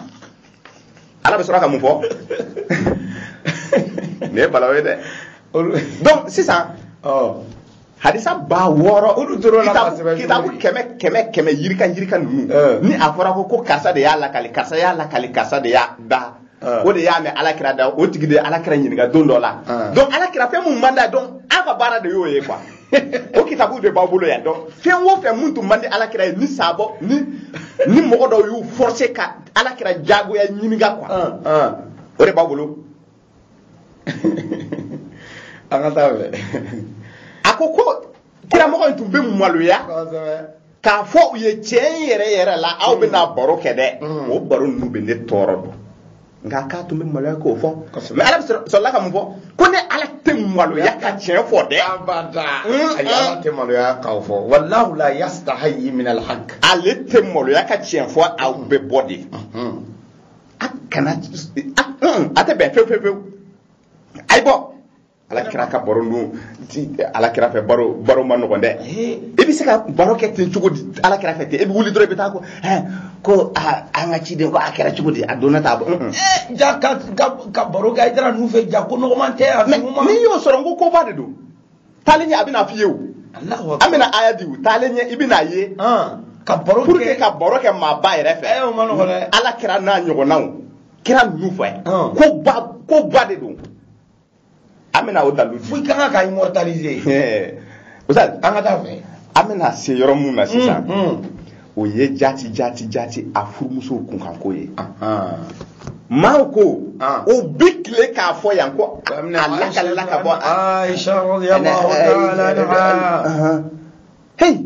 S2: ala bɛ sɔrɔ ka mun fɔ nin ye balawu ye dɛ donc sisan hadisa ba wɔɔrɔ olu dɔrɔn na ka sɛbɛn kitabu kɛmɛ kɛmɛ kɛmɛ yirika yirika ninnu ni a fɔra ko ko karisa de y'a lakali karisa y'a lakali karisa de y'a da Ah. o de y'a mɛn alakira da o tigi de ye alakira ɲininka don dɔ la ah. donc alakira fɛn mun man d'a ye donc a ka baara de y'o ye quoi o kitabu de b'aw bolo yan donc fɛn o fɛn mun tun man di alakira ye ni sabɔ ni ni mɔgɔ dɔw y'u forcer ka alakira jagoya ɲininka quoi ah, o de b'aw
S1: bolo an ka taa fɛ a ko
S2: ko kiramɔgɔ in tun bɛ maloya k'a fɔ u ye tiɲɛ in yɛrɛ yɛrɛ la aw bɛna mm. baro kɛ dɛ mm. o baro ninnu bɛ ne tɔɔrɔ don nka k'a tun bɛ maloya k'o fɔ mais ala bɛ sɔrɔla ka mun fɔ ko ne ala tɛ maloya ka tiɲɛ fɔ dɛ abada mm,
S1: ayi ala tɛ maloya k'aw fɔ wallahu la yastahyi min alhaq ale tɛ
S2: maloya ka tiɲɛ fɔ aw bɛ bɔ de mm-hmm. a kana a tɛ bɛn fewu fewu fewu a ye bɔ ala kira ka baro dun ala kira fɛ baro baro man nɔgɔn dɛ i bɛ se ka baro kɛ ten cogo di ala kira fɛ ten i bɛ wuli dɔrɔn i bɛ taa ko hɛn ko an ka ciden ko a kɛra cogo di a donna t'a bɔ ja ka
S1: ka baro kɛ hayidara ninnu fɛ ja ko nɔgɔman tɛ a nɔgɔman n'i y'o sɔrɔ n
S2: ko koba de don taalen ɲɛ a bɛna f'i ye o an bɛna aya di u taalen ɲɛ i bɛna ye ka
S1: baro kɛ ka baro kɛ
S2: maaba yɛrɛ fɛ ala
S1: kira n'a ɲɔgɔnnaw
S2: kira ninnu fɛ koba koba de don an bɛna o dalu di fo i ka kan ka immortaliser
S1: Ɛɛ, Ustaz,
S2: an ka taa fɛ
S1: an bɛna se yɔrɔ
S2: min na sisan o ye jati jati jati a furumusow kunkanko ye maaw ko Ah. o bi tile k'a fɔ yan ko a lakalila ka bɔ a- Aisha
S1: radiyallahu
S2: ta'ala anha
S1: Ahan. Hey,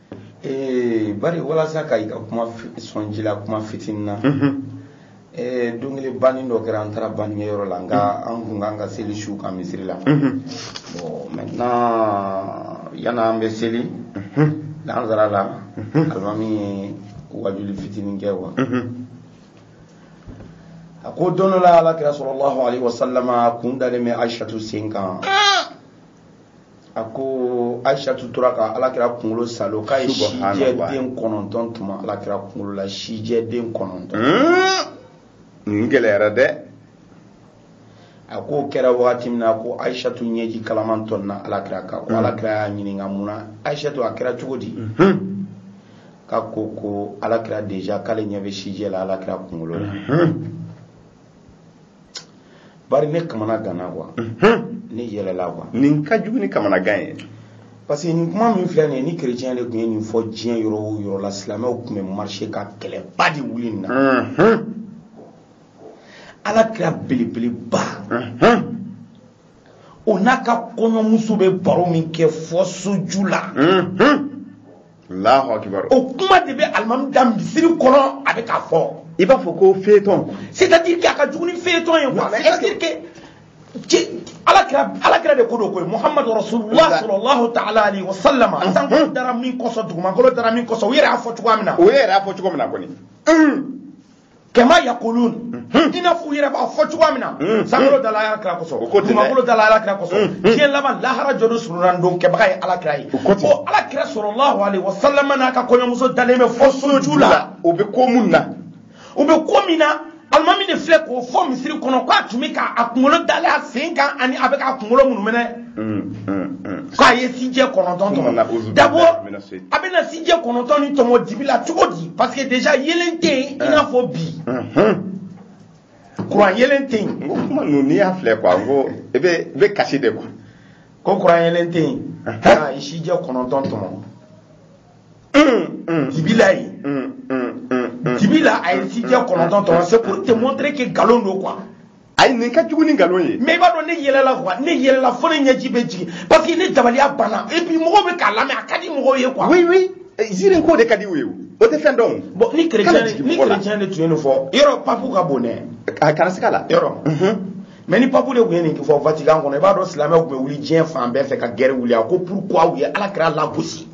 S1: ee bari walasa ka i ka kuma sɔn ji la kuma fitinin na ee don kelen banni dɔ kɛra an taara bannikɛyɔrɔ la nka an kun ka kan ka seli su kan misiri la bon maintenant yanni an bɛ seli lansara la alimami ye wajuli fitinin kɛ wa a ko don dɔ la alakira sallallahu alaihi wasalama a kun dalen bɛ aishatu sen kan a ko aishatu tora ka alakira kunkolo salo k'a ye sijɛ den kɔnɔntɔn tɔmɔ alakira kunkolo la sijɛ den kɔnɔntɔn
S2: nin gɛlɛyara dɛ
S1: a k'o kɛra wagati min na ko aishatu ɲɛji kalaman tɔnna alakira kan ko alakira y'a ɲininka mun na aishatu a kɛra cogo di k'a ko ko alakira deja k'ale ɲɛ bɛ sijɛ la alakira kunkolo la bari ne kamanaganna quoi ne yɛlɛla quoi nin ka jugu ni kamanagan
S2: ye parce que nin
S1: kuma min filɛ nin ye ni kerecɛn de tun ye nin fɔ diɲɛ yɔrɔ o yɔrɔ la silamɛw tun bɛ marcher ka kɛlɛba de wuli nin na ala kira belebeleba o n'a ka kɔɲɔmuso bɛ baro min kɛ fo soju
S2: la o kuma de bɛ
S1: alimami da misiri kɔnɔ a bɛ k'a fɔ i b'a fɔ ko
S2: feuilleton c'est à dire que a ka jugu
S1: ni feuilleton ye quoi c'est à dire que alakira alakira de ko don koyi muhamadu rasulullah sallallahu ta'ala alayhi wa sallam sankolo dara min kosɔn dugumakolo dara min kosɔn u yɛrɛ y'a fɔ cogoya min na o yɛrɛ y'a fɔ cogo min na kɔni kama yakulun hmm. i n'a fɔ u yɛrɛ b'a fɔ cogoya min na hmm. sankolo dala ala kira kosɔn dugumakolo dala ala kira kosɔn hmm. diɲɛ laban lahara jɔdon solonadon kɛbaga ye ala kira ye o ala kira sallallahu alaihi wasallam n'a ka kɔɲɔmuso dalen bɛ fɔ soju la o bɛ ko mun
S2: na o bɛ ko min na alimami
S1: de filɛ k'o fɔ misiri kɔnɔ k'a tun bɛ k'a kunkolo dalen a sen kan ani a bɛ k'a kunkolo munumɛnɛ k'a ye sijɛ kɔnɔntɔn tɔmɔ d'abord a bɛna sijɛ kɔnɔntɔn ni tɔmɔ dibi la cogo di parce que déjà yelen tɛ yen i n'a fɔ bi kuran yelen tɛ yen. n ko kuma ninnu n'i y'a
S2: filɛ quoi n ko i bɛ i bɛ kasi de quoi. ko kuran
S1: yelen tɛ yen k'a ye sijɛ kɔnɔntɔn tɔmɔ dibi la yen dibi la a ye sijɛ kɔnɔntɔn tɔmɔ c'est pour te montrer que nkalon don quoi. ayi nin ka
S2: jugu ni nkalon ye mais i b'a dɔn ne
S1: yɛlɛla quoi ne yɛlɛla fo ne ɲɛji bɛ jigin parce que ne dabaliya banna et puis mɔgɔw bɛ k'a lamɛn a ka di mɔgɔw ye quoi oui oui ziiri
S2: ko de ka di u ye o tɛ fɛn dɔn bon ni chrétien
S1: ni chrétien de tun ye nin fɔ yɔrɔ papu ka bon dɛ a kana se ka
S2: la
S1: yɔrɔ mais ni papu de tun ye nin fɔ vatican kɔnɔ i b'a dɔn silamɛw tun bɛ wuli diɲɛ fan bɛɛ fɛ ka guerre wuli a ko pourquoi u ye ala kira lagosi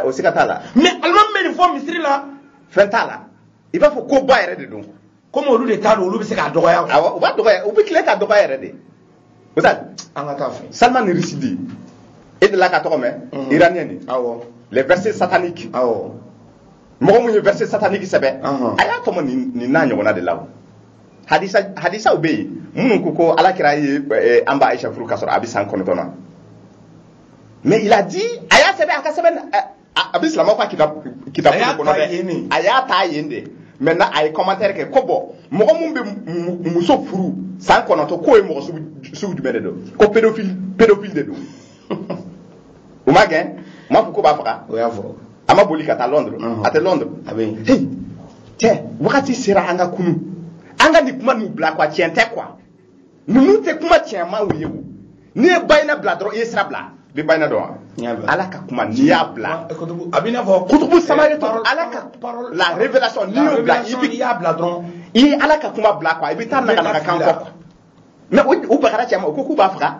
S1: o siga t'a la
S2: mais alimami bɛ nin fɔ
S1: misiri la fɛn t'a la
S2: i b'a fɔ ko ba yɛrɛ de don komi olu de t'a
S1: dɔn olu bɛ se k'a dɔgɔya awɔ u b'a dɔgɔya u
S2: bɛ tile k'a dɔgɔya yɛrɛ de ustaz an ka taa fɛ
S1: salman
S2: rushdie e delila k'a tɔgɔ mɛn Mhm. iranien nin awɔ les versets
S1: sataniques
S2: awɔ
S1: mɔgɔ mun
S2: ye verset satanique sɛbɛn Ɔhɔn. a y'a tɔmɔ nin nin n'a ɲɔgɔnna de la o hadisa hadisaw bɛ yen minnu ko ko ala kira ye eh, an ba aisha furu k'a sɔrɔ a bɛ san kɔnɔntɔn na mais il a dit a y'a sɛbɛn a ka sɛbɛn eh, a bɛ silamɛw ka kitabu kɔnɔ dɛ a y'a ta yen de maintenant a ye commentaire kɛ ko bon mɔgɔ min bɛ muso furu san kɔnɔntɔn k'o ye mɔgɔ sugu jumɛn de don ko pédophile pédophile de don u m'a gɛn u m'a fɔ k'u b'a faga o y'a fɔ a
S1: ma boli ka taa
S2: londres uh-huh. a tɛ londres a bɛ yen cɛ wagati sera an ka kunun an ka nin kuma ninnu bila quoi tiɲɛ tɛ quoi ninnu tɛ kuma tiɲɛmaw ye o n'i ye bayina bila dɔrɔn i ye sira bila i bɛ bayina dɔn wa ala ka kuma n'i y'a bila a b'i n'a fɔ
S1: kutubu samawiyatu
S2: ala ka la révélation n'i y'o bila i bɛ y'a bila dɔrɔn i ye ala ka kuma bila quoi i bɛ taa naganaga kan kɔ quoi mais u bagara cɛ ma u ko k'u b'a faga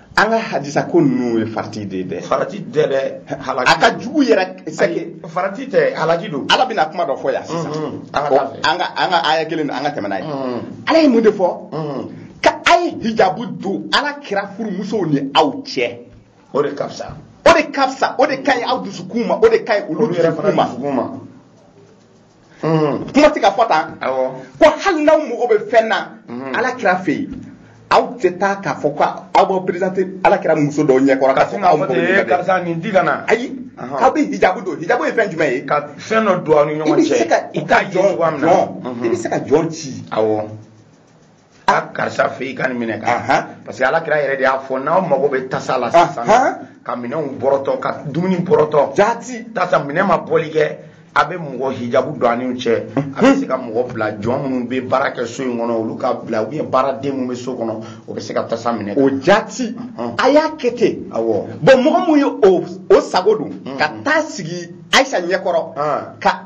S1: an
S2: ka hadisa ko ninnu ye farati de ye dɛ farati tɛ
S1: dɛ a ka jugu
S2: yɛrɛ c'est que farati tɛ halaki
S1: don ala bɛna kuma dɔ fɔ yan
S2: sisan an ka an ka aya kelen don an ka tɛmɛ n'a ye ala ye mun de fɔ ko a ye hijabu don ala kira furumusow ni aw cɛ o de ka fisa
S1: o de ka fisa
S2: o de ka ɲi aw dusukun ma o de ka ɲi olu yɛrɛ fana dusukun ma mm-hmm. kuma tɛ ka fɔ tan ko hali n'aw mago bɛ fɛn na mm-hmm. ala kira fɛ yen aw tɛ taa k'a fɔ ko aw b'aw perezante ala kira muso dɔw ɲɛkɔrɔ k'a fɔ k'aw mago bɛ karisa nin di ka na
S1: ayi aw bɛ
S2: hijabu don hijabu ye fɛn jumɛn ye ka fɛn dɔ don aw
S1: ni ɲɔgɔn cɛ i bɛ se ka i ka jɔn
S2: i bɛ se ka jɔn ci awɔ
S1: a karisa fɛ i ka nin minɛ ka parce que ala kira yɛrɛ de y'a fɔ n'aw mago bɛ tasa la sisan ka minɛnw bɔrɔtɔ ka dumuni bɔrɔtɔ jaati tasa minɛn ma bɔli kɛ a bɛ mɔgɔ hijabu don a ni u cɛ a bɛ se ka mɔgɔ bila jɔn minnu bɛ baara kɛ so in kɔnɔ olu ka bila ou bien baaraden minnu bɛ so kɔnɔ o bɛ se ka tasa minɛ o
S2: jaati a y'a kɛ ten awɔ bon mɔgɔ min ye o sago don ka taa sigi ayisa ɲɛkɔrɔ ka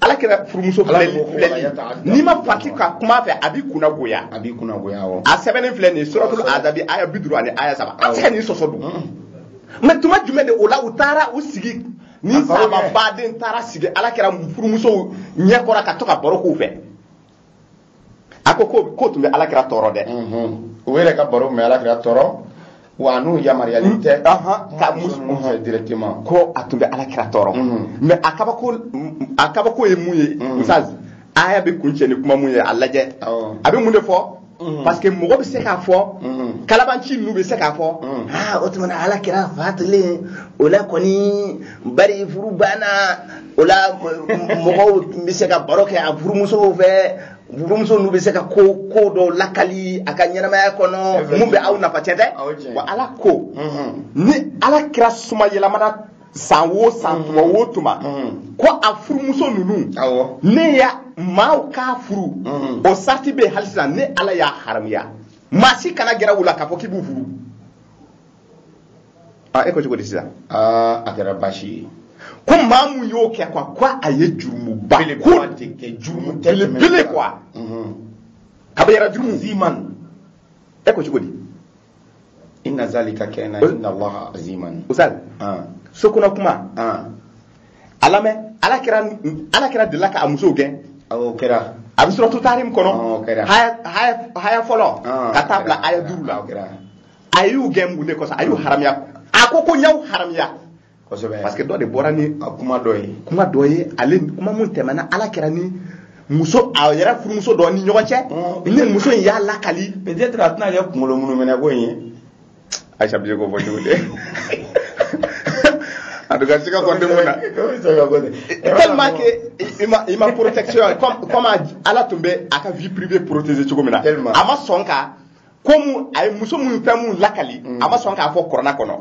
S2: ala kira furumuso filɛli n'i ma farati ka kuma a fɛ a b'i kunna goya a b'i kunna goya awɔ a sɛbɛnnen filɛ nin ye suratul azabi aya bi duuru ani aya saba an tɛ se ka nin sɔsɔ dun mm-hmm. mais tuma jumɛn de o la u taara u sigi ni sama baden taara sigi ala kira furumusow ɲɛkɔrɔ ka to ka baro k'u fɛ a ko k'o tun bɛ ala kira tɔɔrɔ dɛ o yɛrɛ
S1: ka baro mɛ ala kira tɔɔrɔ wa n'u yamaruyalen mm. tɛ ka musow fɛ directement ko a tun bɛ ala
S2: kira tɔɔrɔ mais a kabako a kabako ye mun ye ustazi aya bɛ kuncɛ ni kuma mun ye a lajɛ a bɛ mun de fɔ Mm-hmm. parce que mɔgɔ bɛ se k'a fɔ mm-hmm. kalabanci ninnu bɛ se k'a fɔ mm-hmm. aa ah, o tuma na ala kira fatulen o la kɔni bari furu banna o la mɔgɔw bɛ se ka baro kɛ a furumusow fɛ furumuso ninnu bɛ se ka ko ko dɔw lakali a ka ɲɛnamaya kɔnɔ mun bɛ aw nafa tiɲɛ tɛ wa ala ko ni ala kira somayɛlɛmana san wo san tuma wo tuma ko a furumuso ninnu ne ya maaw k'a furu o sarati bɛ yen hali sisan ne ala y'a haramuya maa si kana gɛrɛ u la k'a fɔ k'i b'u furu a e ko cogo di sisan a
S1: kɛra baasi ye ko maa
S2: mun y'o kɛ quoi ko a ye jurumuba ko belebele quoi kabayira jurumu aziman
S1: e ko
S2: cogo di
S1: inna zalika kana inda allahi aziman ustazi
S2: ah. so kɔnɔ kuma ah. a lamɛn ala kira ala kira delila ka a musow gɛn o
S1: kɛra a bɛ suratu
S2: tahrim kɔnɔ aya fɔlɔ ka taa bila aya duuru la a y'u gɛn mun de kosɔn a y'u haramiya a ko ko n y'aw haramiya kosɛbɛ parce que dɔ de bɔra ni a kuma dɔ ye kuma dɔ ye ale kuma mun tɛmɛna ala kira ni muso a yɛrɛ furumuso dɔ ni ɲɔgɔn cɛ mm. ni muso in y'a lakali peut-être a tɛna kɛ
S1: kunkolo munuminɛ ko in ye ayisa bi
S2: se k'o fɔ cogo di en tout cas sika kɔni tɛ mun na tellement que ima ima ma protection comme comme ala tun bɛ a ka vie privée protéger cogo min na a ma sɔn ka komu a ye muso minnu fɛn minnu lakali mm. a ma sɔn k'a fɔ kuranna kɔnɔ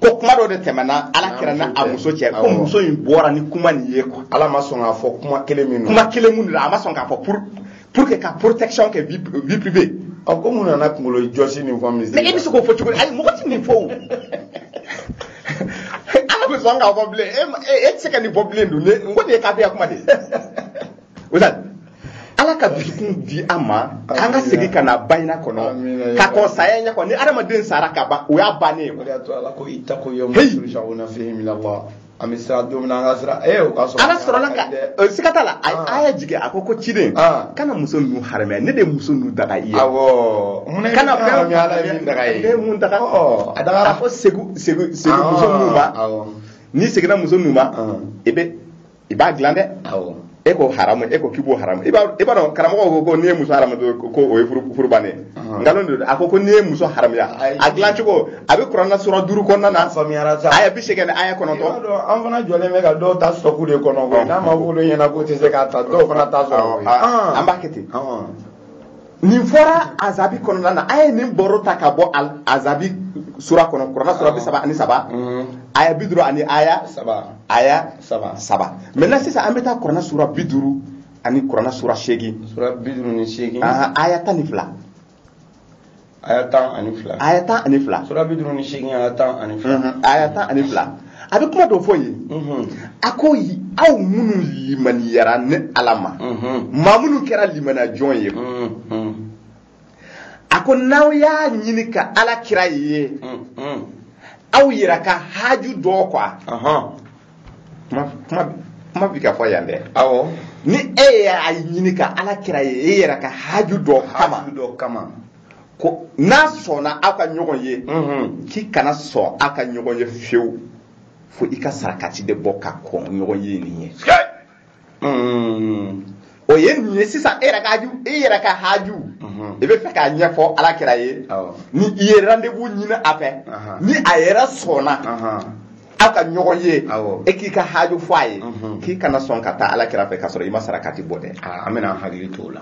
S2: ko kuma dɔ de tɛmɛna ala kira n'a muso cɛ ko muso in bɔra ni kuma nin ye quoi ala ma sɔn k'a fɔ kuma
S1: kelen min kuma kelen min a ma sɔn k'a
S2: fɔ pour que ka protection kɛ vie privée ɔ ko mun
S1: nana kunkolo jɔsi nin fɔ misiri mais e bɛ se k'o fɔ cogo di
S2: ayi mɔgɔ tɛ nin fɔ o ala bɛ sɔn k'a fɔ bilen e tɛ se ka nin fɔ bilen dun ne n ko nin ye kafiriya kuma de ye ala ka dusukun di an ma an ka segin ka na bayina kɔnɔ ka kɔn saya ɲɛ kɔnɔ ni adamaden sara ka ban o y'a bannen
S1: ye an bɛ siran don min na an ka siran ee o ka sɔrɔ ala sɔrɔla ka
S2: eh, siga t'a la a y'a jigin a ko ko ciden ah. kana muso ninnu haramuya ne de ye muso ninnu daga i ye awɔ mun na kana fɛn ala ye min daga ye ne ye
S1: mun daga oh,
S2: a daga a ko segin segin segin ah, muso ninnu ma n'i seginna muso ninnu ma ah. i bɛ i b'a dilan dɛ e ko haramu e ko k'i b'o haramu i b'a dɔn karamɔgɔ ko ko n'i ye muso haramu ko o ye furu bannen nkalon don a ko ko n'i ye muso haramuya a dilan cogo a bɛ kuranna sura duuru kɔnɔna na faamuyara sa aya bi seegin ni aya kɔnɔntɔn an fana
S1: jɔlen bɛ ka dɔw ta sɔku de kɔnɔ n'a ma wolo ɲɛna k'o tɛ se k'a ta dɔw fana t'a sɔrɔ an b'a kɛ ten
S2: nin fɔra azabi kɔnɔna na an ye nin baro ta ka bɔ azabi sura kɔnɔ kurana sura bi saba ani saba mm. aya bi duuru ani aya aya saba maintenant sisan an bɛ taa kurana sura bi duuru ani kurana sura
S1: seegin aya tan ni fila aya tan ani fila aya tan ani fila sura bi duuru ni seegin aya tan ani fila aya tan ani fila a bɛ kuma dɔ
S2: fɔ yen a ko aw minnu limaniyara ne ala ma maa minnu kɛra limaniya jɔn ye a ko n'aw y'a ɲini ka ala kira ye aw yɛrɛ ka haju dɔ kɔ kuma bi ka fɔ yan dɛ awɔ ni
S1: e y'a
S2: ɲini ka ala kira ye e yɛrɛ ka haju dɔ kama dɔ kama ko n'a sɔnna aw ka ɲɔgɔn ye k'i kana sɔn aw ka ɲɔgɔn ye fewu fo i ka sarakati de bɔ ka kɔn ɲɔgɔn ye nin ɲɛ o ye nin ye sisan e yɛrɛ ka haju e yɛrɛ ka haju i bɛ fɛ k'a ɲɛfɔ ala kira ye Awɔ. ni i ye rendez-vous ɲini a fɛ Aha. ni a yɛrɛ sɔnna aw ka ɲɔgɔn ye Awɔ. e k'i ka haju fɔ a ye Mhm. k'i kana sɔn ka taa ala kira fɛ k'a sɔrɔ i ma sarakati bɔ dɛ Aa, an bɛna an hakili to o
S1: la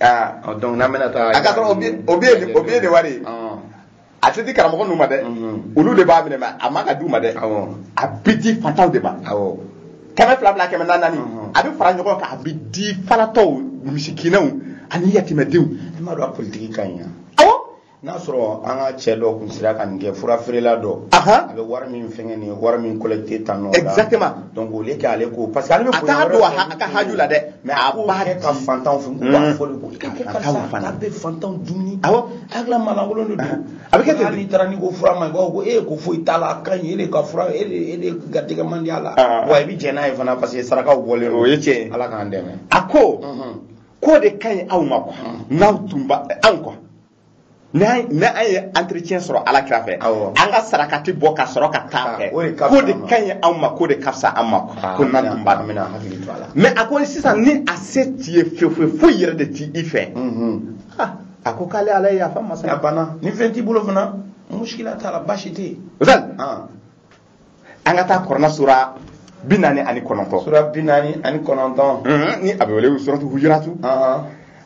S1: Ah, ɔ, donc n'an bɛna taa a ka sɔrɔ o bi o billet
S2: nin- o billet nin wari ye Ɔn, a tɛ di karamɔgɔ ninnu ma dɛ Mhm. olu de b'a minɛ mais a man ka d'u ma dɛ awɔ a bɛ di fantanw de ma awɔ kɛmɛ fila fila kɛmɛ naani naani Mhm. a bɛ fara ɲɔgɔn kan a bɛ di falatɔw misikinɛw ani yatimɛdenw i m'a dɔn a politiki
S1: ka ɲi yan
S2: n'a
S1: sɔrɔ an ka cɛ dɔ kun sera ka nin kɛ fura feerela dɔ a bɛ wari min fɛngɛ nin wari min collecté tan nɔ exactement donc au lieu
S2: k'ale ko
S1: parce que ale bɛ a t'a don a ka haju
S2: la dɛ mais a b'a kɛ ka
S1: fantanw fɛ u b'a fɔ de ko k'a kɛ karisa a bɛ fantanw dumuni awɔ
S2: hakilila maalankolon
S1: de don a bɛ kɛ ten n'i taara
S2: n'i ko fura man ɲi a
S1: b'a fɔ ko e ko foyi t'a la a ka ɲi e de ka fura e de e de garijɛgɛ man di a la wa i bɛ jɛn n'a ye fana parce que sarakaw bɔlen don o ye tiɲɛ ye ala k'an
S2: dɛmɛ a
S1: ko
S2: ko de ka ɲi aw ma quoi n'aw tun b'a dɔn quoi n'an n'an ye entretien sɔrɔ ala kira fɛ Awɔ. an ka sarakati bɔ ka sɔrɔ ka taa a fɛ o de ka ko fisa de an ma. ka ɲi aw ma ko de ka fisa an ma quoi ko n'an tun b'a dɔn an bɛna hakili to a la mais a ko sisan ni a se t'i ye fefewu foyi yɛrɛ de t'i i fɛ Mhm. Ah, a ko k'ale ala ye yafa masa a ye. banna ni fɛn t'i
S1: bolo fana muskila t'a la baasi tɛ yen Ozan, Ah,
S2: an ka taa kɔrɔna sura bi naani ani kɔnɔntɔn sura bi
S1: naani ani kɔnɔntɔn mhm, ni a bɛ wele
S2: suratu hujuratu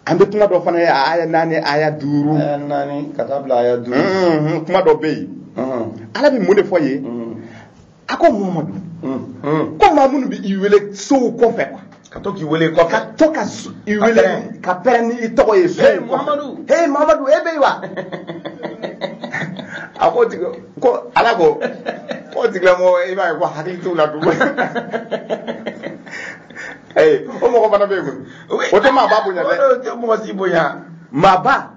S2: an bɛ kuma dɔ fana ye a aya naani aya duuru aya naani ka
S1: taa bila aya duuru mhm, kuma dɔ bɛ
S2: yen mhm. ala bɛ mun de fɔ yen a ko muhamadu ko maa minnu bɛ i wele sow kɔfɛ ka to k'i wele kɔfɛ
S1: ka to ka
S2: i wele ka pɛrɛn ni i tɔgɔ ye so mamadu he
S1: mamadu e bɛ yen
S2: wa a ko tigi ko ala ko ko tigilamɔgɔ i b'a ye ko hakili t'u la tugun ee o mɔgɔ fana bɛ yen koyi o tɛ maaba bonya dɛ o tɛ mɔgɔ si bonya
S1: maaba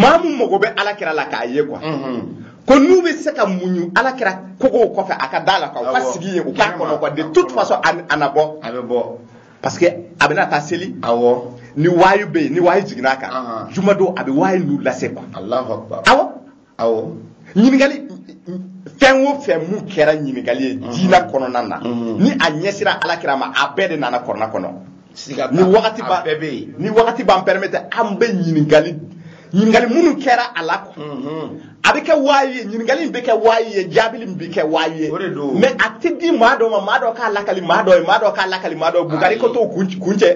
S2: maa min mago bɛ ala kira la k'a ye quoi ko n'u bɛ se ka muɲu ala kira kogow kɔfɛ a ka da la quoi u ka sigi yen u k'a kɔnɔ quoi de toute façon a na bɔ a bɛ bɔ parce que a bɛna taa seli awɔ ni wayu bɛ yen ni wayu jiginna a kan jumadon a bɛ wayu ninnu lase quoi awɔ awɔ ɲininkali fɛn o fɛn min kɛra ɲininkali ye diinɛ kɔnɔna na ni a ɲɛsira ala kira ma a bɛɛ de nana kɔrɔna kɔnɔ ni wagati b'a bɛɛ bɛ yen ni wagati b'an permettre an bɛ ɲininkali ɲininkali minnu kɛra a la a bɛ kɛ waayi ye ɲininkali in bɛ kɛ waayi ye jaabi min bi kɛ waayi ye mais a tɛ di maa dɔ ma maa dɔ k'a lakali maa dɔ ye maa dɔ k'a lakali maa dɔ bugari ko t'o kun cɛ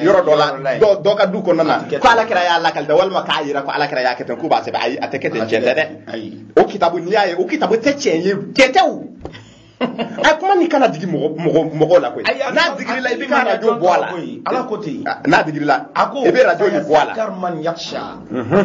S2: yɔrɔ dɔ la dɔ ka du kɔnɔna na ko ala kira y'a lakali dɛ walima k'a yira ko ala kira y'a kɛ ten k'u b'a sɛbɛn ayi a tɛ kɛ ten cɛn tɛ dɛ o kitabu n'i y'a ye o kitabu tɛ tiɲɛ ye cɛn tɛ o a kuma nin kana digi mɔgɔ mɔgɔ la koyi n'a digiri la i bɛ ka radio bɔ a la ala ko ten
S1: n'a digiri la
S2: i bɛ radio nin bɔ a la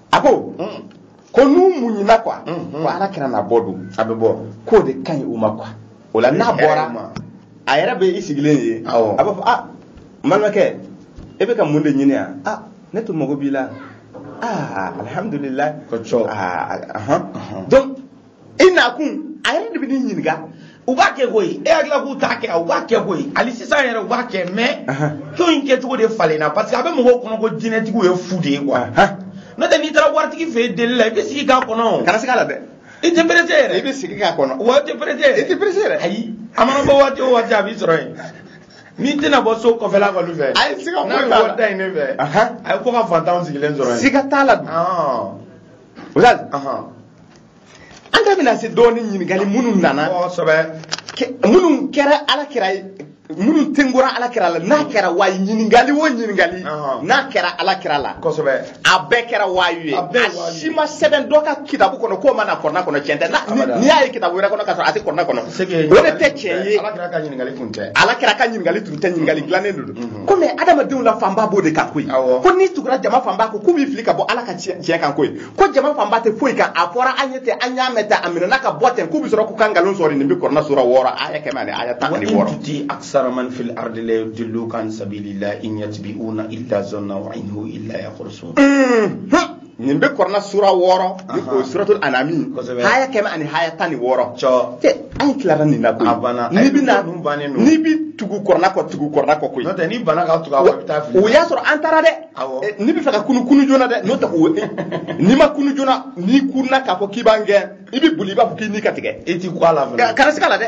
S2: a ko ko n'u muɲuna quoi ko ala kira na bɔ don a bɛ bɔ k'o de
S1: ka ɲi u
S2: ma quoi o la n'a bɔra a yɛrɛ bɛ i sigilen ye a b'a fɔ ah n balimakɛ e bɛ ka mun de ɲini yan ah ne tun mago b'i la ah alihamudulilahi ko cɔ
S1: ah
S2: donc i nakun a yɛrɛ de bɛ ne ɲininka u b'a kɛ
S1: koyi e hakilila k'u t'a kɛ u b'a kɛ koyi hali sisan yɛrɛ u b'a kɛ mɛ ko in kɛcogo de falenna parce que a bɛ mɔgɔw kɔnɔ ko jinɛtigiw ye fu de ye kuwa n'o tɛ n'i taara waritigi fɛ yen deli la i bɛ sigi k'a kɔnɔ o kana siga a la
S2: dɛ i tɛ perese
S1: yɛrɛ i bɛ sigi k'a kɔnɔ
S2: wa i tɛ perese yɛrɛ i
S1: tɛ perese yɛrɛ
S2: ayi a mana
S1: bɔ waati o waati a b'i sɔrɔ yen n'i tɛna bɔ so kɔfɛla kɔni fɛ a ye siga foyi t'a la n'a bɛ bɔ da
S2: in ne fɛ
S1: a ye ko ka fantanw sigilen sɔrɔ yen siga t'a la
S2: ustaz an da bɛna se dɔɔni ɲininkali minnu
S1: nana
S2: minnu kɛra ala kira ye minnu tengora ala kira la n'a kɛra wayi ɲininkali o ɲininkali n'a kɛra ala kira la a
S1: bɛɛ kɛra
S2: wayu ye a si ma sɛbɛn dɔ ka kitabu kɔnɔ k'o ma na kɔrɔna kɔnɔ tiɲɛ tɛ n'i y'a ye kitabu wɛrɛ kɔnɔ k'a sɔrɔ a tɛ kɔrɔna kɔnɔ o de tɛ tiɲɛ ye
S1: ala kira ka ɲininkali tun
S2: tɛ ɲininkali dilannen de don ko mɛ adamadenw la fanba b'o de kan koyi ko n'i tugura jama fanba kɔ k'u b'i fili ka bɔ ala ka tiɲɛ kan koyi ko jama fanba tɛ foyi kan a fɔra an ye ten an y'a mɛn ten a minɛna ka bɔ ten k'u bɛ sɔrɔ k'u ka nkalon sɔrɔ nin bɛ kɔrɔna sura wɔɔrɔ aya kɛmɛ ani aya tan ani wɔɔrɔ. wa in tuti aksara man fil
S1: ardi yudilluka an sabilillah in yattabi'una illa zanna wa in hum illa yakhrusun.
S2: nin bɛ kɔrɔna sura wɔɔrɔ ni o suratul anami haya kɛmɛ ani haya tan ni wɔɔrɔ cɛ an
S1: ye tilara
S2: nin na koyi n'i bɛ na n'i bɛ tugu kɔrɔna kɔ tugu kɔrɔna kɔ koyi n'o tɛ n'i bana ka tugu
S1: a kɔ i bɛ taa fili o y'a sɔrɔ an taara dɛ eh,
S2: n'i b'a fɛ ka kunu kunu joona dɛ n'o tɛ o n'i ma kunu joona n'i kunna k'a fɔ k'i b'an gɛn i bɛ boli i b'a fɔ k'i ni ka tigɛ i t'i kɔ a la fana
S1: kana siga a la dɛ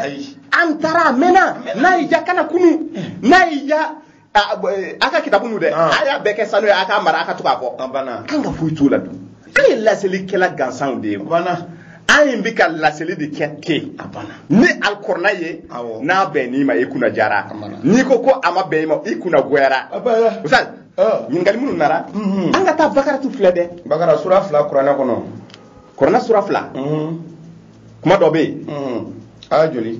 S2: an taara a mɛnna n'a y'i diya kana kunu eh. n'a y'i diya A bɔ, eh, a ka kitabu nu dɛ Ah. a y'a bɛɛ kɛ sanu ye a k'a mara a ka to k'a fɔ a banna k'an ka foyi
S1: t'o
S2: la dun an ye laselikɛla gansanw de ye a banna an ye
S1: bɛ ka
S2: laseli de kɛ ten a banna ni
S1: alikɔrɔna
S2: ye Awɔ. n'a bɛnn'i ma i kunna diyara A mana. n'i ko ko a ma bɛn i ma i kunna goyara a banna Ustaz, Ah. ɲininkali minnu nana Mhm. an ka taa bakaratu filɛ dɛ bakara sura fila kuranɛ
S1: kɔnɔ kɔrɔna sura
S2: fila Mhm, kuma dɔ bɛ yen mhm. aya joli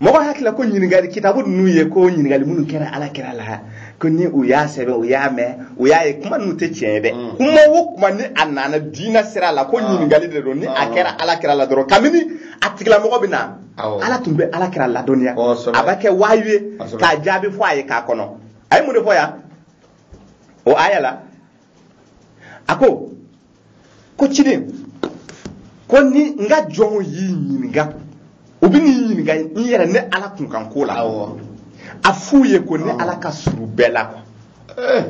S2: mɔgɔ hakilila ko ɲininkali kitabu ninnu ye ko ɲininkali minnu kɛra ala kira la ko ni u y'a sɛbɛn u y'a mɛn u y'a ye kuma ninnu tɛ tiɲɛ ye dɛ mm. kuma o kuma ni a nana diinɛ sira la ko ah. ɲininkali de don ni a ah. kɛra ala kira la dɔrɔn kabini a tigilamɔgɔ bɛ na ala tun bɛ ala kira ladɔnniya a bɛ kɛ wayu ye k'a jaabi fɔ a ye k'a kɔnɔ a ye mun de fɔ yan o aya la a ko ko ciden ko ni n ka jɔnw y'i ɲininka u bɛn'i ɲininka n yɛrɛ ne ala kunkan ko la a f'u ye ko ne ala ka surun bɛɛ la kuwa eh.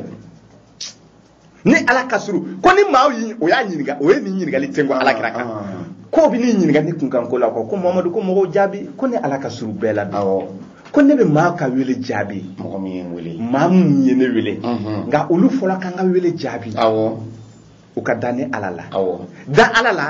S2: ne ala ka surun ko ni maaw y'i o y'a ɲininka o ye nin ɲininkali tengo ala kira kan ah. k'u bɛn'i ɲininka ne kunkan ko la kuwa ko mamadu ko mɔgɔw jaabi ko ne ala ka surun bɛɛ la bi ko ne bɛ maa ka wele jaabi mɔgɔ min ye n wele
S1: maa min ye ne wele
S2: nka olu fɔlɔ ka n ka wele jaabi u ka da ne ala la da ala la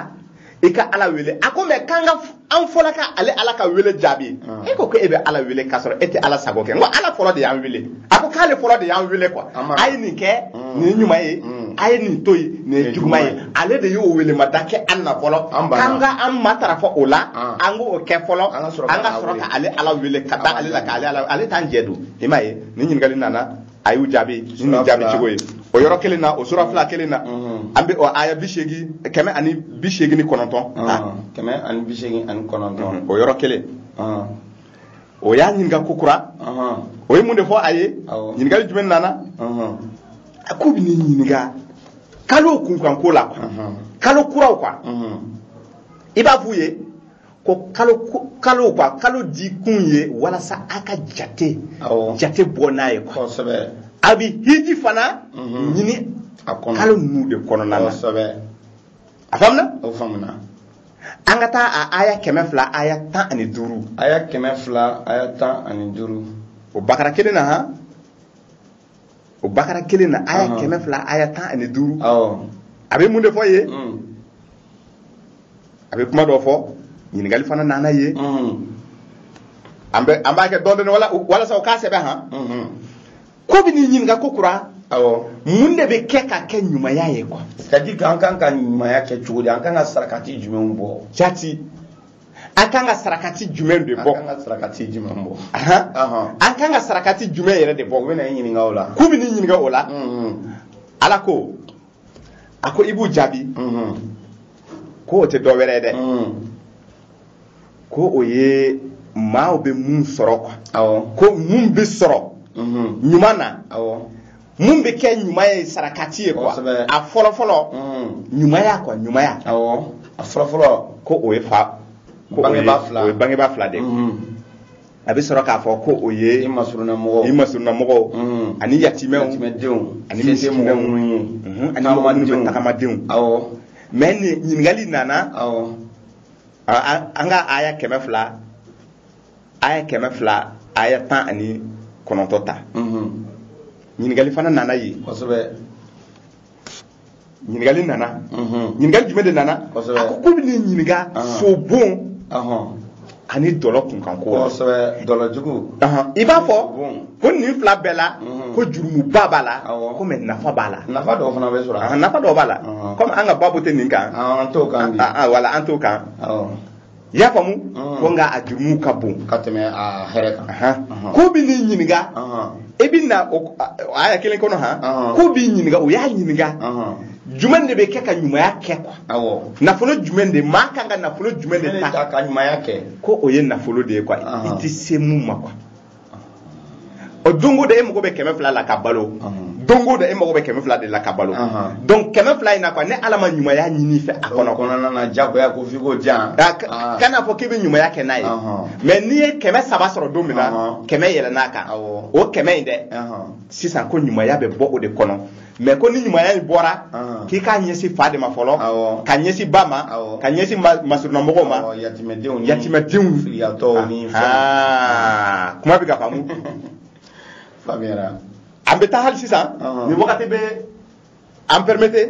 S2: i ka ala wele a ko mais k'an ka an fɔlɔ ka ale ala ka wele jaabi ah. e ko ko e bɛ ala wele k'a sɔrɔ e tɛ ala sago kɛ n ko ala fɔlɔ de y'an wele a ko k'ale fɔlɔ de y'an wele quoi a ye nin kɛ mm. nin ɲuman ye mm. a ye nin to yen nin ye juguman ye ale de y'o welemada kɛ an na fɔlɔ k'an ka an matarafa o la ah. an k'o kɛ fɔlɔ an ka sɔrɔ ka ale ala wele ka da ale la ka ale ala ale t'an jɛ don i m'a ye nin ɲininkali nana a y'u jaabi ni nin jaabi cogo ye o yɔrɔ kelen na o sura fila kelen na an bɛ o aya bi seegin kɛmɛ ani bi seegin ni kɔnɔntɔn kɛmɛ ani
S1: bi seegin ani kɔnɔntɔn o yɔrɔ kelen
S2: o y'a ɲininka ko kura o ye mun de fɔ a ye ɲininkali jumɛn nana a k'u bɛ n'i ɲininka kalo kunkanko la kalo kuraw kan i b'a f'u ye ko kalo kalo quoi kalo di kun ye walasa a ka jate jate bɔ n'a ye quoi a bɛ
S1: hiji
S2: fana mhm. ɲini kalo ninnu de kɔnɔna na
S1: a faamuna
S2: o faamuna
S1: an ka taa
S2: a aya kɛmɛ fila aya tan ani duuru aya kɛmɛ fila
S1: aya tan
S2: ani duuru o bakara
S1: kelen na han
S2: o bakara kelen na aya Ɔhɔn. kɛmɛ fila aya tan ani duuru awɔ
S1: a bɛ mun de
S2: fɔ yen Mm. a bɛ kuma dɔ fɔ ɲininkali fana nana yen Mm. an bɛ an b'a kɛ dɔɔnin dɔɔnin wala- walasa u k'a sɛbɛn han Mhm. k'u bɛ n'i ɲininka ko kura awɔ
S1: mun de bɛ
S2: kɛ ka kɛ ɲumanya ye quoi c'est à dire que an kan ka
S1: ɲumanya kɛ cogo di an kan ka sarakati jumɛnw bɔ jati
S2: an kan ka sarakati jumɛn de bɔ an ka sarakati
S1: jumɛn bɔ an
S2: kan ka sarakati jumɛn yɛrɛ de bɔ u bɛ n'a ɲininka o la
S1: k'u bɛ n'i ɲininka o la
S2: ala ko a ko i b'u jaabi ko o tɛ dɔ wɛrɛ ye dɛ ko o ye maaw bɛ mun sɔrɔ quoi ko mun
S1: bɛ sɔrɔ
S2: ɲuman na
S1: mun bɛ
S2: kɛ ɲuman ye sarakati ye quoi a fɔlɔfɔlɔ ɲumanya quoi ɲumanya
S1: a fɔlɔfɔlɔ ko o ye fa
S2: ko o ye bangebaa fila de ye a bɛ sɔrɔ k'a fɔ ko o ye i masurunamɔgɔw
S1: i masurunamɔgɔw
S2: ani yatimɛdenw ani
S1: misikinɛw minnu ani
S2: mɔgɔ minnu bɛ tagamadenw awɔ mais nin ɲininkali nana awɔ an ka aya kɛmɛ fila aya kɛmɛ fila aya tan ani kɔnɔntɔn ta ɲininkali fana nana yen ɲininkali nana ɲininkali jumɛn de nana a ko k'u bɛ n'i ɲininka sobon ani dɔlɔ kunkanko
S1: dɔlɔjugu i b'a
S2: fɔ ko nin fila bɛɛ la ko jurumuba b'a la ko mais nafa b'a la nafa dɔw fana bɛ sɔrɔ
S1: a nafa dɔw b'a la
S2: kɔmi an ka babu tɛ nin kan an t'o kan
S1: wala an t'o kan
S2: i y'a faamu mm. ko nka a jurumu ka bon ka tɛmɛ a
S1: hɛrɛ kan k'u bɛ n'i
S2: ɲininka e bɛ na aya kelen kɔnɔ han k'u b'i ɲininka o y'a ɲininka jumɛn de bɛ kɛ ka ɲumanya kɛ quoi awɔ
S1: nafolo jumɛn
S2: de maa kan ka nafolo jumɛn de ta ka ɲumanya kɛ ko
S1: o ye nafolo de ye
S2: quoi i tɛ se mun ma quoi o don o don e mago bɛ kɛmɛ fila la ka balo don o don e mago bɛ kɛmɛ fila de la ka balo donc kɛmɛ fila in na quoi ne ala ma ɲumanya ɲini i fɛ a kɔnɔ kɔnɔna na jagoya ko
S1: f'i k'o jan kana fɔ k'i
S2: bɛ ɲumanya kɛ n'a ye mais n'i ye kɛmɛ saba sɔrɔ don min na kɛmɛ yɛlɛnn'a kan o kɛmɛ in de sisan ko ɲumanya bɛ bɔ o de kɔnɔ mais ko ni ɲumanya in bɔra ah. k'i k'a ɲɛsin fa de ma fɔlɔ k'a ɲɛsin ba ma k'a ɲɛsin masurunamɔgɔw ma yatimɛdenw kuma bɛ ka faamu
S1: an
S2: bɛ taa hali sisan ah. ni wagati bɛ an pɛrɛmete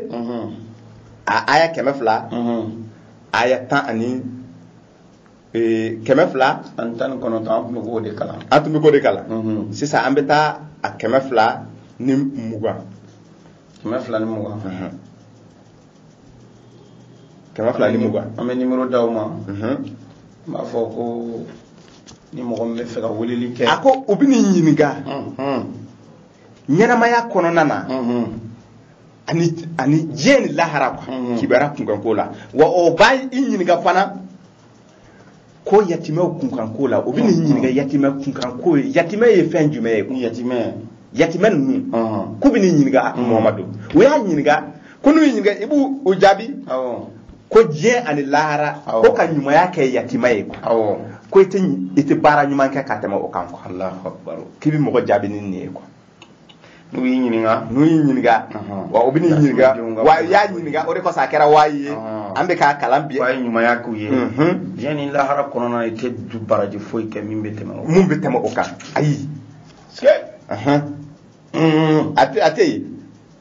S2: a aya kɛmɛ fila aya tan ani ee, kɛmɛ fila ani tan ni kɔnɔntɔn
S1: an tun bɛ k'o de kalan an tun bɛ k'o de kalan
S2: mhm. sisan an bɛ taa a kɛmɛ fila ni mugan kɛmɛ
S1: fila ni mugan mhm.
S2: kɛmɛ fila ni mugan an bɛ nimoro d'aw
S1: ma mhm. n b'a fɔ ko ni mɔgɔ min b'a fɛ ka weleli kɛ a ko u bɛ n'i ɲininka
S2: ɲɛnamaya kɔnɔna na ani ani diɲɛ ni lahara quoi mhm. kibaruya kunkanko la wa o bɛna i ɲininka fana ko yatimɛw kunkanko la u bɛ n'i mhm. ɲininka yatimɛ kunkanko ye yatimɛ ye fɛn jumɛn ye ko yatimɛ yatimɛ ninnu mhm. k'u bɛ n'i ɲininka mamadu u y'a ɲininka ko n'u y'i ɲininka i b'u jaabi ko diɲɛ ani lahara ko ka ɲumanya kɛ yatimɛ ye quoi ko i tɛ i tɛ baara ɲuman kɛ ka tɛmɛ o kan quoi k'i bɛ mɔgɔ jaabi ni nin ye quoi n'u
S1: y'i ɲininka n'u y'i ɲininka
S2: wa u bɛ n'i ɲininka wa u y'a ɲininka o de kosɔn a kɛra waayi ye an bɛ k'a kalan bi a ye ɲumanya k'u ye
S1: diɲɛ ni lahara kɔnɔna i tɛ du baraji foyi kɛ min bɛ tɛmɛ o mun bɛ tɛmɛ o kan
S2: ayi a tɛ yen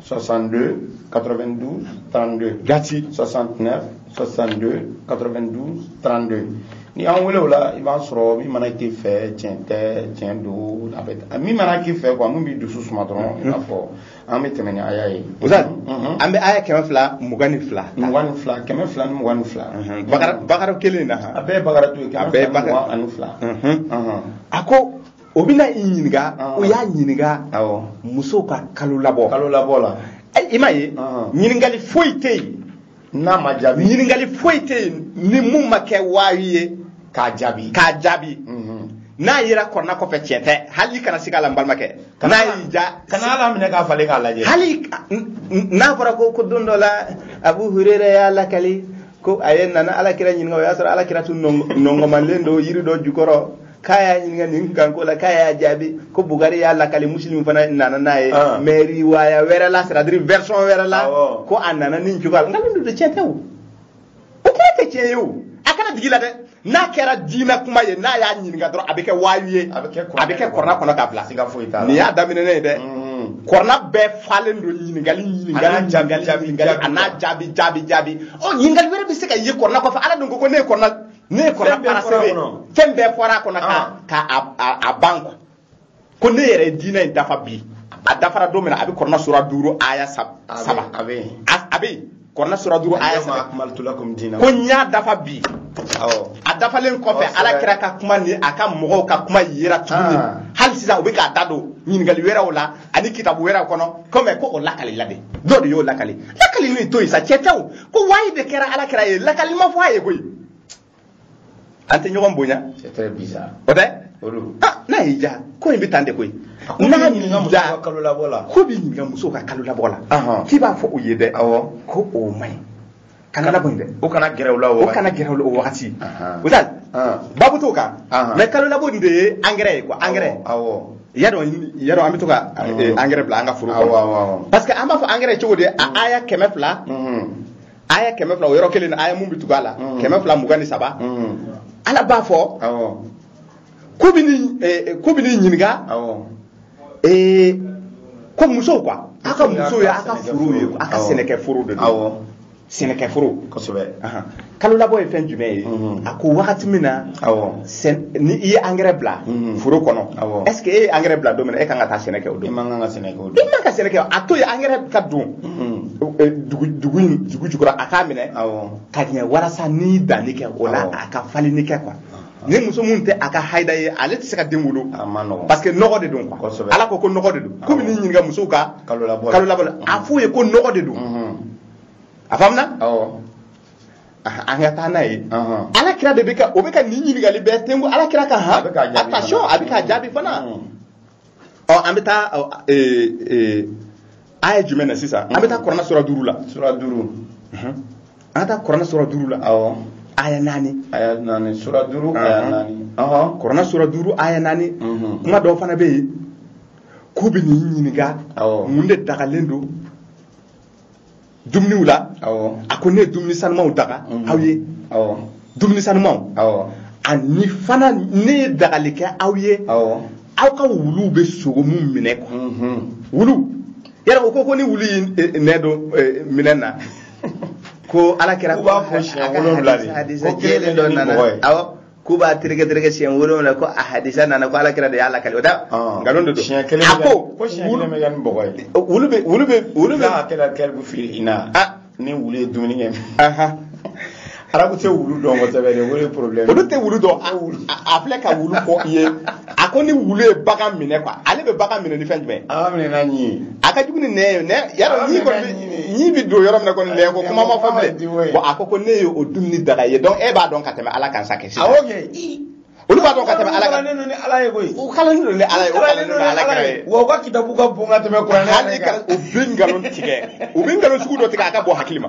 S1: 62 92 32 gati 69 62 92 32 n'i y'an wele o la i b'an sɔrɔ min mana k'i fɛ tiɲɛ tɛ tiɲɛ don a bɛ min mana k'i fɛ quoi min b'i dusu suma dɔrɔn i n'a fɔ an bɛ tɛmɛ ni aya ye. sisan an
S2: bɛ aya kɛmɛ fila mugan ni fila. mugan ni fila kɛmɛ
S1: fila ni mugan ni fila. bakara bakara kelen
S2: na. a bɛɛ ye bakaratu ye. a
S1: bɛɛ ye bakara ani fila.
S2: a ko. o bɛna i ɲininka o y'a ɲininka musow ka kalolabɔ kalolabɔ
S1: la i m'a
S2: ye ɲininkali foyi tɛ yen n'a ma jaabi
S1: ɲininkali foyi tɛ yen
S2: ni mun ma kɛ waayi ye k'a jaabi k'a jaabi mhm. n'a yera kurana kɔfɛ tiɲɛ tɛ hali i kana sig'a la n balimakɛ n'a y'i ja kana a laminɛ k'a falen
S1: k'a lajɛ hali
S2: n'a fɔra ko ko don dɔ la abu hurera y'a lakali ko a ye nana alakira ɲininka o y'a sɔrɔ alakira tun nɔngɔmalen don yiri dɔ jukɔrɔ k'a y'a ɲininka nin kanko la k'a y'a jaabi ko
S3: bugari y'a lakali musilimu fana nana n'a ye ah. mais riwaya wɛrɛ la c'est-à-dire version wɛrɛ la ko a nana nin cogoya la nkalon don tiɲɛ tɛ o o kɛra tɛ tiɲɛ ye o a kana digi i la dɛ n'a kɛra diinɛ kuma ye n'a y'a ɲininka dɔrɔn a bɛ kɛ waayu ye a bɛ kɛ kɔrɔna kɔnɔ k'a bila siga foyi t'a la nin y'a daminɛ ye dɛ mm-hmm. kɔrɔna bɛɛ falen don ɲininkali ɲininkali jaabi jaabi ɲininkali an'a jaabi jaabi jaabi ɔ ɲininkali wɛrɛ bɛ se ka ye kɔrɔna kɔfɛ ala dun ko ko ne ye kɔrɔna ne ye kɔrɔna parachever fɛn bɛɛ fɔra a kɔnɔ ka ah. ka a ban quoi ko ne yɛrɛ ye diinɛ in dafa bi a dafara don min na a bɛ kɔrɔna sura duuru aya saba a bɛ yen a bɛ yen kɔrɔna sura duuru aya saba ko
S1: n y'a dafa bi
S3: a dafalen kɔfɛ ala kira ka kuma ni a ka mɔgɔw ka kuma yera tuguni ah. hali sisan u bɛ k'a da don ɲininkali wɛrɛw la ani kitabu wɛrɛw kɔnɔ kɔmi ko o lakalila de dɔ de y'o lakali lakali nin to yen sa tiɲɛ tɛ o ko wayi de kɛra ala kira ye lakali ma fɔ a ye koyi an tɛ ɲɔgɔn bonya
S1: o
S3: tɛ ah, n'a y'i ja ko in bɛ tan de koyi n'a y'i ja k'u b'i ɲininka musow ka kalo labɔ la k'i b'a fɔ u ye dɛ ko o man ɲi kalo labɔ in dɛ o kana gɛrɛ o la
S1: o kana gɛrɛ o la o wagati
S3: o tɛ babu t'o kan mais kalo labɔ nin de ye angɛrɛ ye quoi angɛrɛ y'a dɔn y'a dɔn an bɛ to ka angɛrɛ bila an ka foro kɔnɔ parce que an b'a fɔ angɛrɛ cogo di a aya kɛmɛ fila aya kɛmɛ fila o yɔrɔ kelen na aya mun bɛ tugu a la mm. kɛmɛ fila mugan ni saba mm. ala b'a fɔ k'u bɛ eh, n'i ɲininka eh, ko musow quoi a ka musow ye a ka foro ye a ka sɛnɛkɛ foro de don sɛnɛkɛ foro
S1: kosɛbɛ kalo
S3: labɔ ye fɛn jumɛn ye mm-hmm. a ko wagati min na ni i ye angɛrɛ bila mm-hmm. foro kɔnɔ est ce que e ye angɛrɛ bila don min na e kan ka taa sɛnɛ kɛ o don i man kan ka sɛnɛ kɛ o
S1: don
S3: i
S1: man ka sɛnɛ kɛ a to
S3: yen angɛrɛ ka don mm-hmm. eh, dugu dugu in dugu jukɔrɔ a k'a minɛ awɔ ka ɲɛ walasa n'i danni kɛ o la Awɔ. a ka falenni kɛ quoi ni muso min tɛ a ka hayida ye ale tɛ se ka den wolo a ma nɔgɔn parce que nɔgɔ de don quoi Kosɛbɛ. ala ko ko nɔgɔ de don k'u bɛ n'i ɲininka musow ka kalo labɔ kalo labɔ la a f'u ye ko nɔgɔ de don Mhm. a faamuna awɔ Ah, an ka taa n'a ye Ahan. ala kira de bɛ ka o bɛ ka nin ɲininkali bɛɛ tengu ala kira kan han A bɛ k'a jaabi attention fana. a bɛ k'a jaabi fana Mm. ɔ an bɛ taa aya jumɛn na sisan an bɛ taa kuranɛ sura duuru la sura duuru an ka taa kuranɛ sura duuru la awɔ aya naani aya naani sura duuru
S1: aya naani ɔhɔn kuranɛ sura duuru
S3: aya naani kuma dɔw fana bɛ yen k'u bɛ n'i ɲininka mun de dagalen don dumuniw la a ko ne ye dumuni sanumanw daga mhm. aw ye dumuni sanumanw ani fana ne ye dagali kɛ aw ye aw ka wuluw bɛ sogo min minɛ quoi mhm. wulu yɛrɛ o ko ko ni wulu y'i eh, eh, nɛn don eh, minɛn na ko ala kira k'u b'a ko siɲɛ wolonwula
S1: de ko kelen dɔ nana awɔ k'u b'a
S3: tereke tereke siɲɛ wolonwula ko a hadisa nana ko ala kira de y'a lakali o da ah. nkalon de don siɲɛ kelen a ko ko
S1: siɲɛ kelen bɛ kɛ ni bɔgɔ ye wulu bɛ wulu bɛ wulu bɛ a kɛra kɛribu fili i na ah. ni wulu ye dumuni kɛ arabu tɛ wulu dɔn kosɛbɛ dɛ o de ye problème olu tɛ wulu dɔn
S3: a filɛ ka wulu fɔ i ye a ko ni wulu ye bagan minɛ quoi ale bɛ bagan minɛ ni fɛn jumɛn a minɛ n'a
S1: ɲin a ka jugu ni nɛn
S3: ye nɛn yɔrɔ ɲin kɔni ɲin bɛ don yɔrɔ min na kɔni nɛn ko kuma ma fɔ bilen bon a ko ko ne ye o dumuni daga ye donc e b'a dɔn ka tɛmɛ ala kan sa kɛ sisan awɔ
S1: kɛ olu b'a
S3: dɔn ka tɛmɛ ala kan kalannen don ni ala ye koyi
S1: u kalannen don ni ala ye
S3: u kalannen don ni ala kira ye wa u ka kitabu ka bon
S1: ka tɛmɛ kuranɛ hali ka u bɛ nkalon tigɛ
S3: u bɛ nkalon sugu dɔ tigɛ a ka bon hakili ma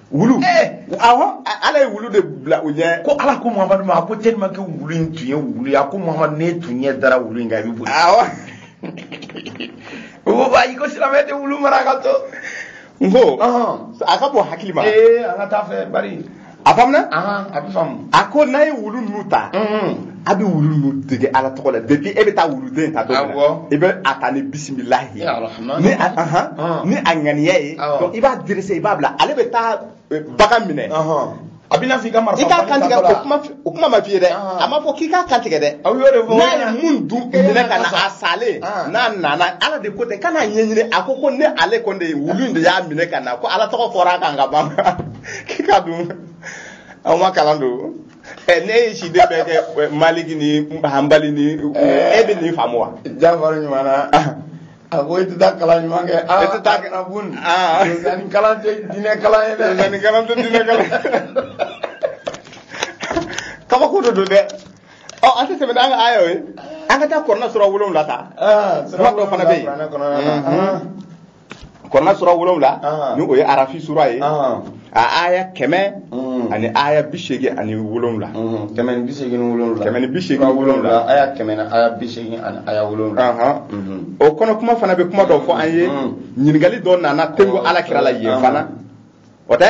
S3: wulu eh! awɔ ala ye wulu de bila u ɲɛ ko ala ko muhamadu ma
S1: a ko tellement que wulu in tun ye wulu ye a ko muhamadu n'e tun ɲɛ dara wulu in kan i bɛ boli awɔ o ko ayi ko silamɛ tɛ wulu mara ka to n
S3: ko a ka bon hakili ma ee an ka taa fɛ
S1: bari a faamuna a
S3: bɛ faamu
S1: a ko n'a ye wulu ninnu
S3: ta a bɛ wulu ninnu dege ala tɔgɔ la depuis e bɛ taa wuluden ta don min na Awɔ. i bɛ a ta ni bisimilahi Ya Rahman. ni a ahan, Ah. ni a ŋaniya ye Awɔ. donc i b'a direse i b'a bila ale bɛ taa eh, bagan minɛ Ɔhɔn. a bɛna f'i
S1: ka marifa i k'a bali kantigɛ tatɔla. o kuma f-
S3: o kuma ma f'i ye dɛ Ah. a ma fɔ k'i k'a kantigɛ dɛ aw y'o de fɔ n'a ye
S1: mun dun
S3: Eh, minɛ ka na sa. a salen Ah. n'a nana ala de ko ten kana ɲɛɲini a ko ko ni ale kɔni de ye wulu in de y'a minɛ ka na ko ala tɔgɔ fɔra a kan ka ban k'i ka dun aw ma kalan don ɛ ne ye si de bɛɛ kɛ ɛ, maliki ni
S1: hanbali
S3: ni e bɛ
S1: nin
S3: faamu wa jafari ɲuman na a ko
S1: i tɛ taa kalan ɲuman kɛ aa I tɛ taa- kana bun
S3: Ah.
S1: nin kalan
S3: tɛ diinɛ
S1: kalan ye dɛ Nka nin kalan tɛ
S3: diinɛ kalan kabako de don dɛ ɔ an tɛ tɛmɛ n'an ka aya ye an ka taa kuranɛ sura wolonwula ta aa Sura dɔ fana bɛ yen. kuranɛ kɔnɔna na, Mhm. ah. kuranɛ sura wolonwula ah. ni o ye arafi sura ye ah. a aya kɛmɛ mm. ani aya bi seegin ani wolonwula mm-hmm. kɛmɛ ni bi seegin ni
S1: wolonwula kɛmɛ ni bi seegin ni wolonwula
S3: aya kɛmɛ ni aya
S1: bi seegin ani aya wolonwula mm-hmm. o kɔnɔ
S3: kuma fana bɛ kuma dɔ fɔ an ye mm-hmm. ɲininkali dɔ nana ten ko ala kira la yen fana o tɛ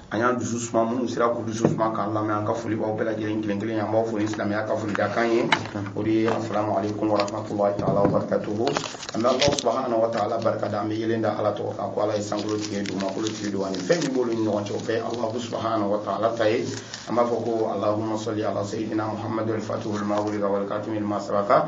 S1: an y'an dusu suma minnu sera k'u dusu suma k'an lamɛn an ka foli b'aw bɛɛ lajɛlen kelen kelen an b'aw fo ni silamɛya ka foli dakan ye o de ye asalamu aleykum warahmatulahi taala wabarakatuhu an bɛ alahu subahana wa taala barika da an bɛ yelen da ala tɔgɔ kan ko ala ye sankolo tigi dugumakolo tigi don ani fɛn min b'olu ni ɲɔgɔn cɛ o bɛɛ ye alahu subahana wa taala ta ye an b'a fɔ ko alahuma sɔli ala seyidina muhamadu alfatuhu lima wulika walikatimi lima sabaka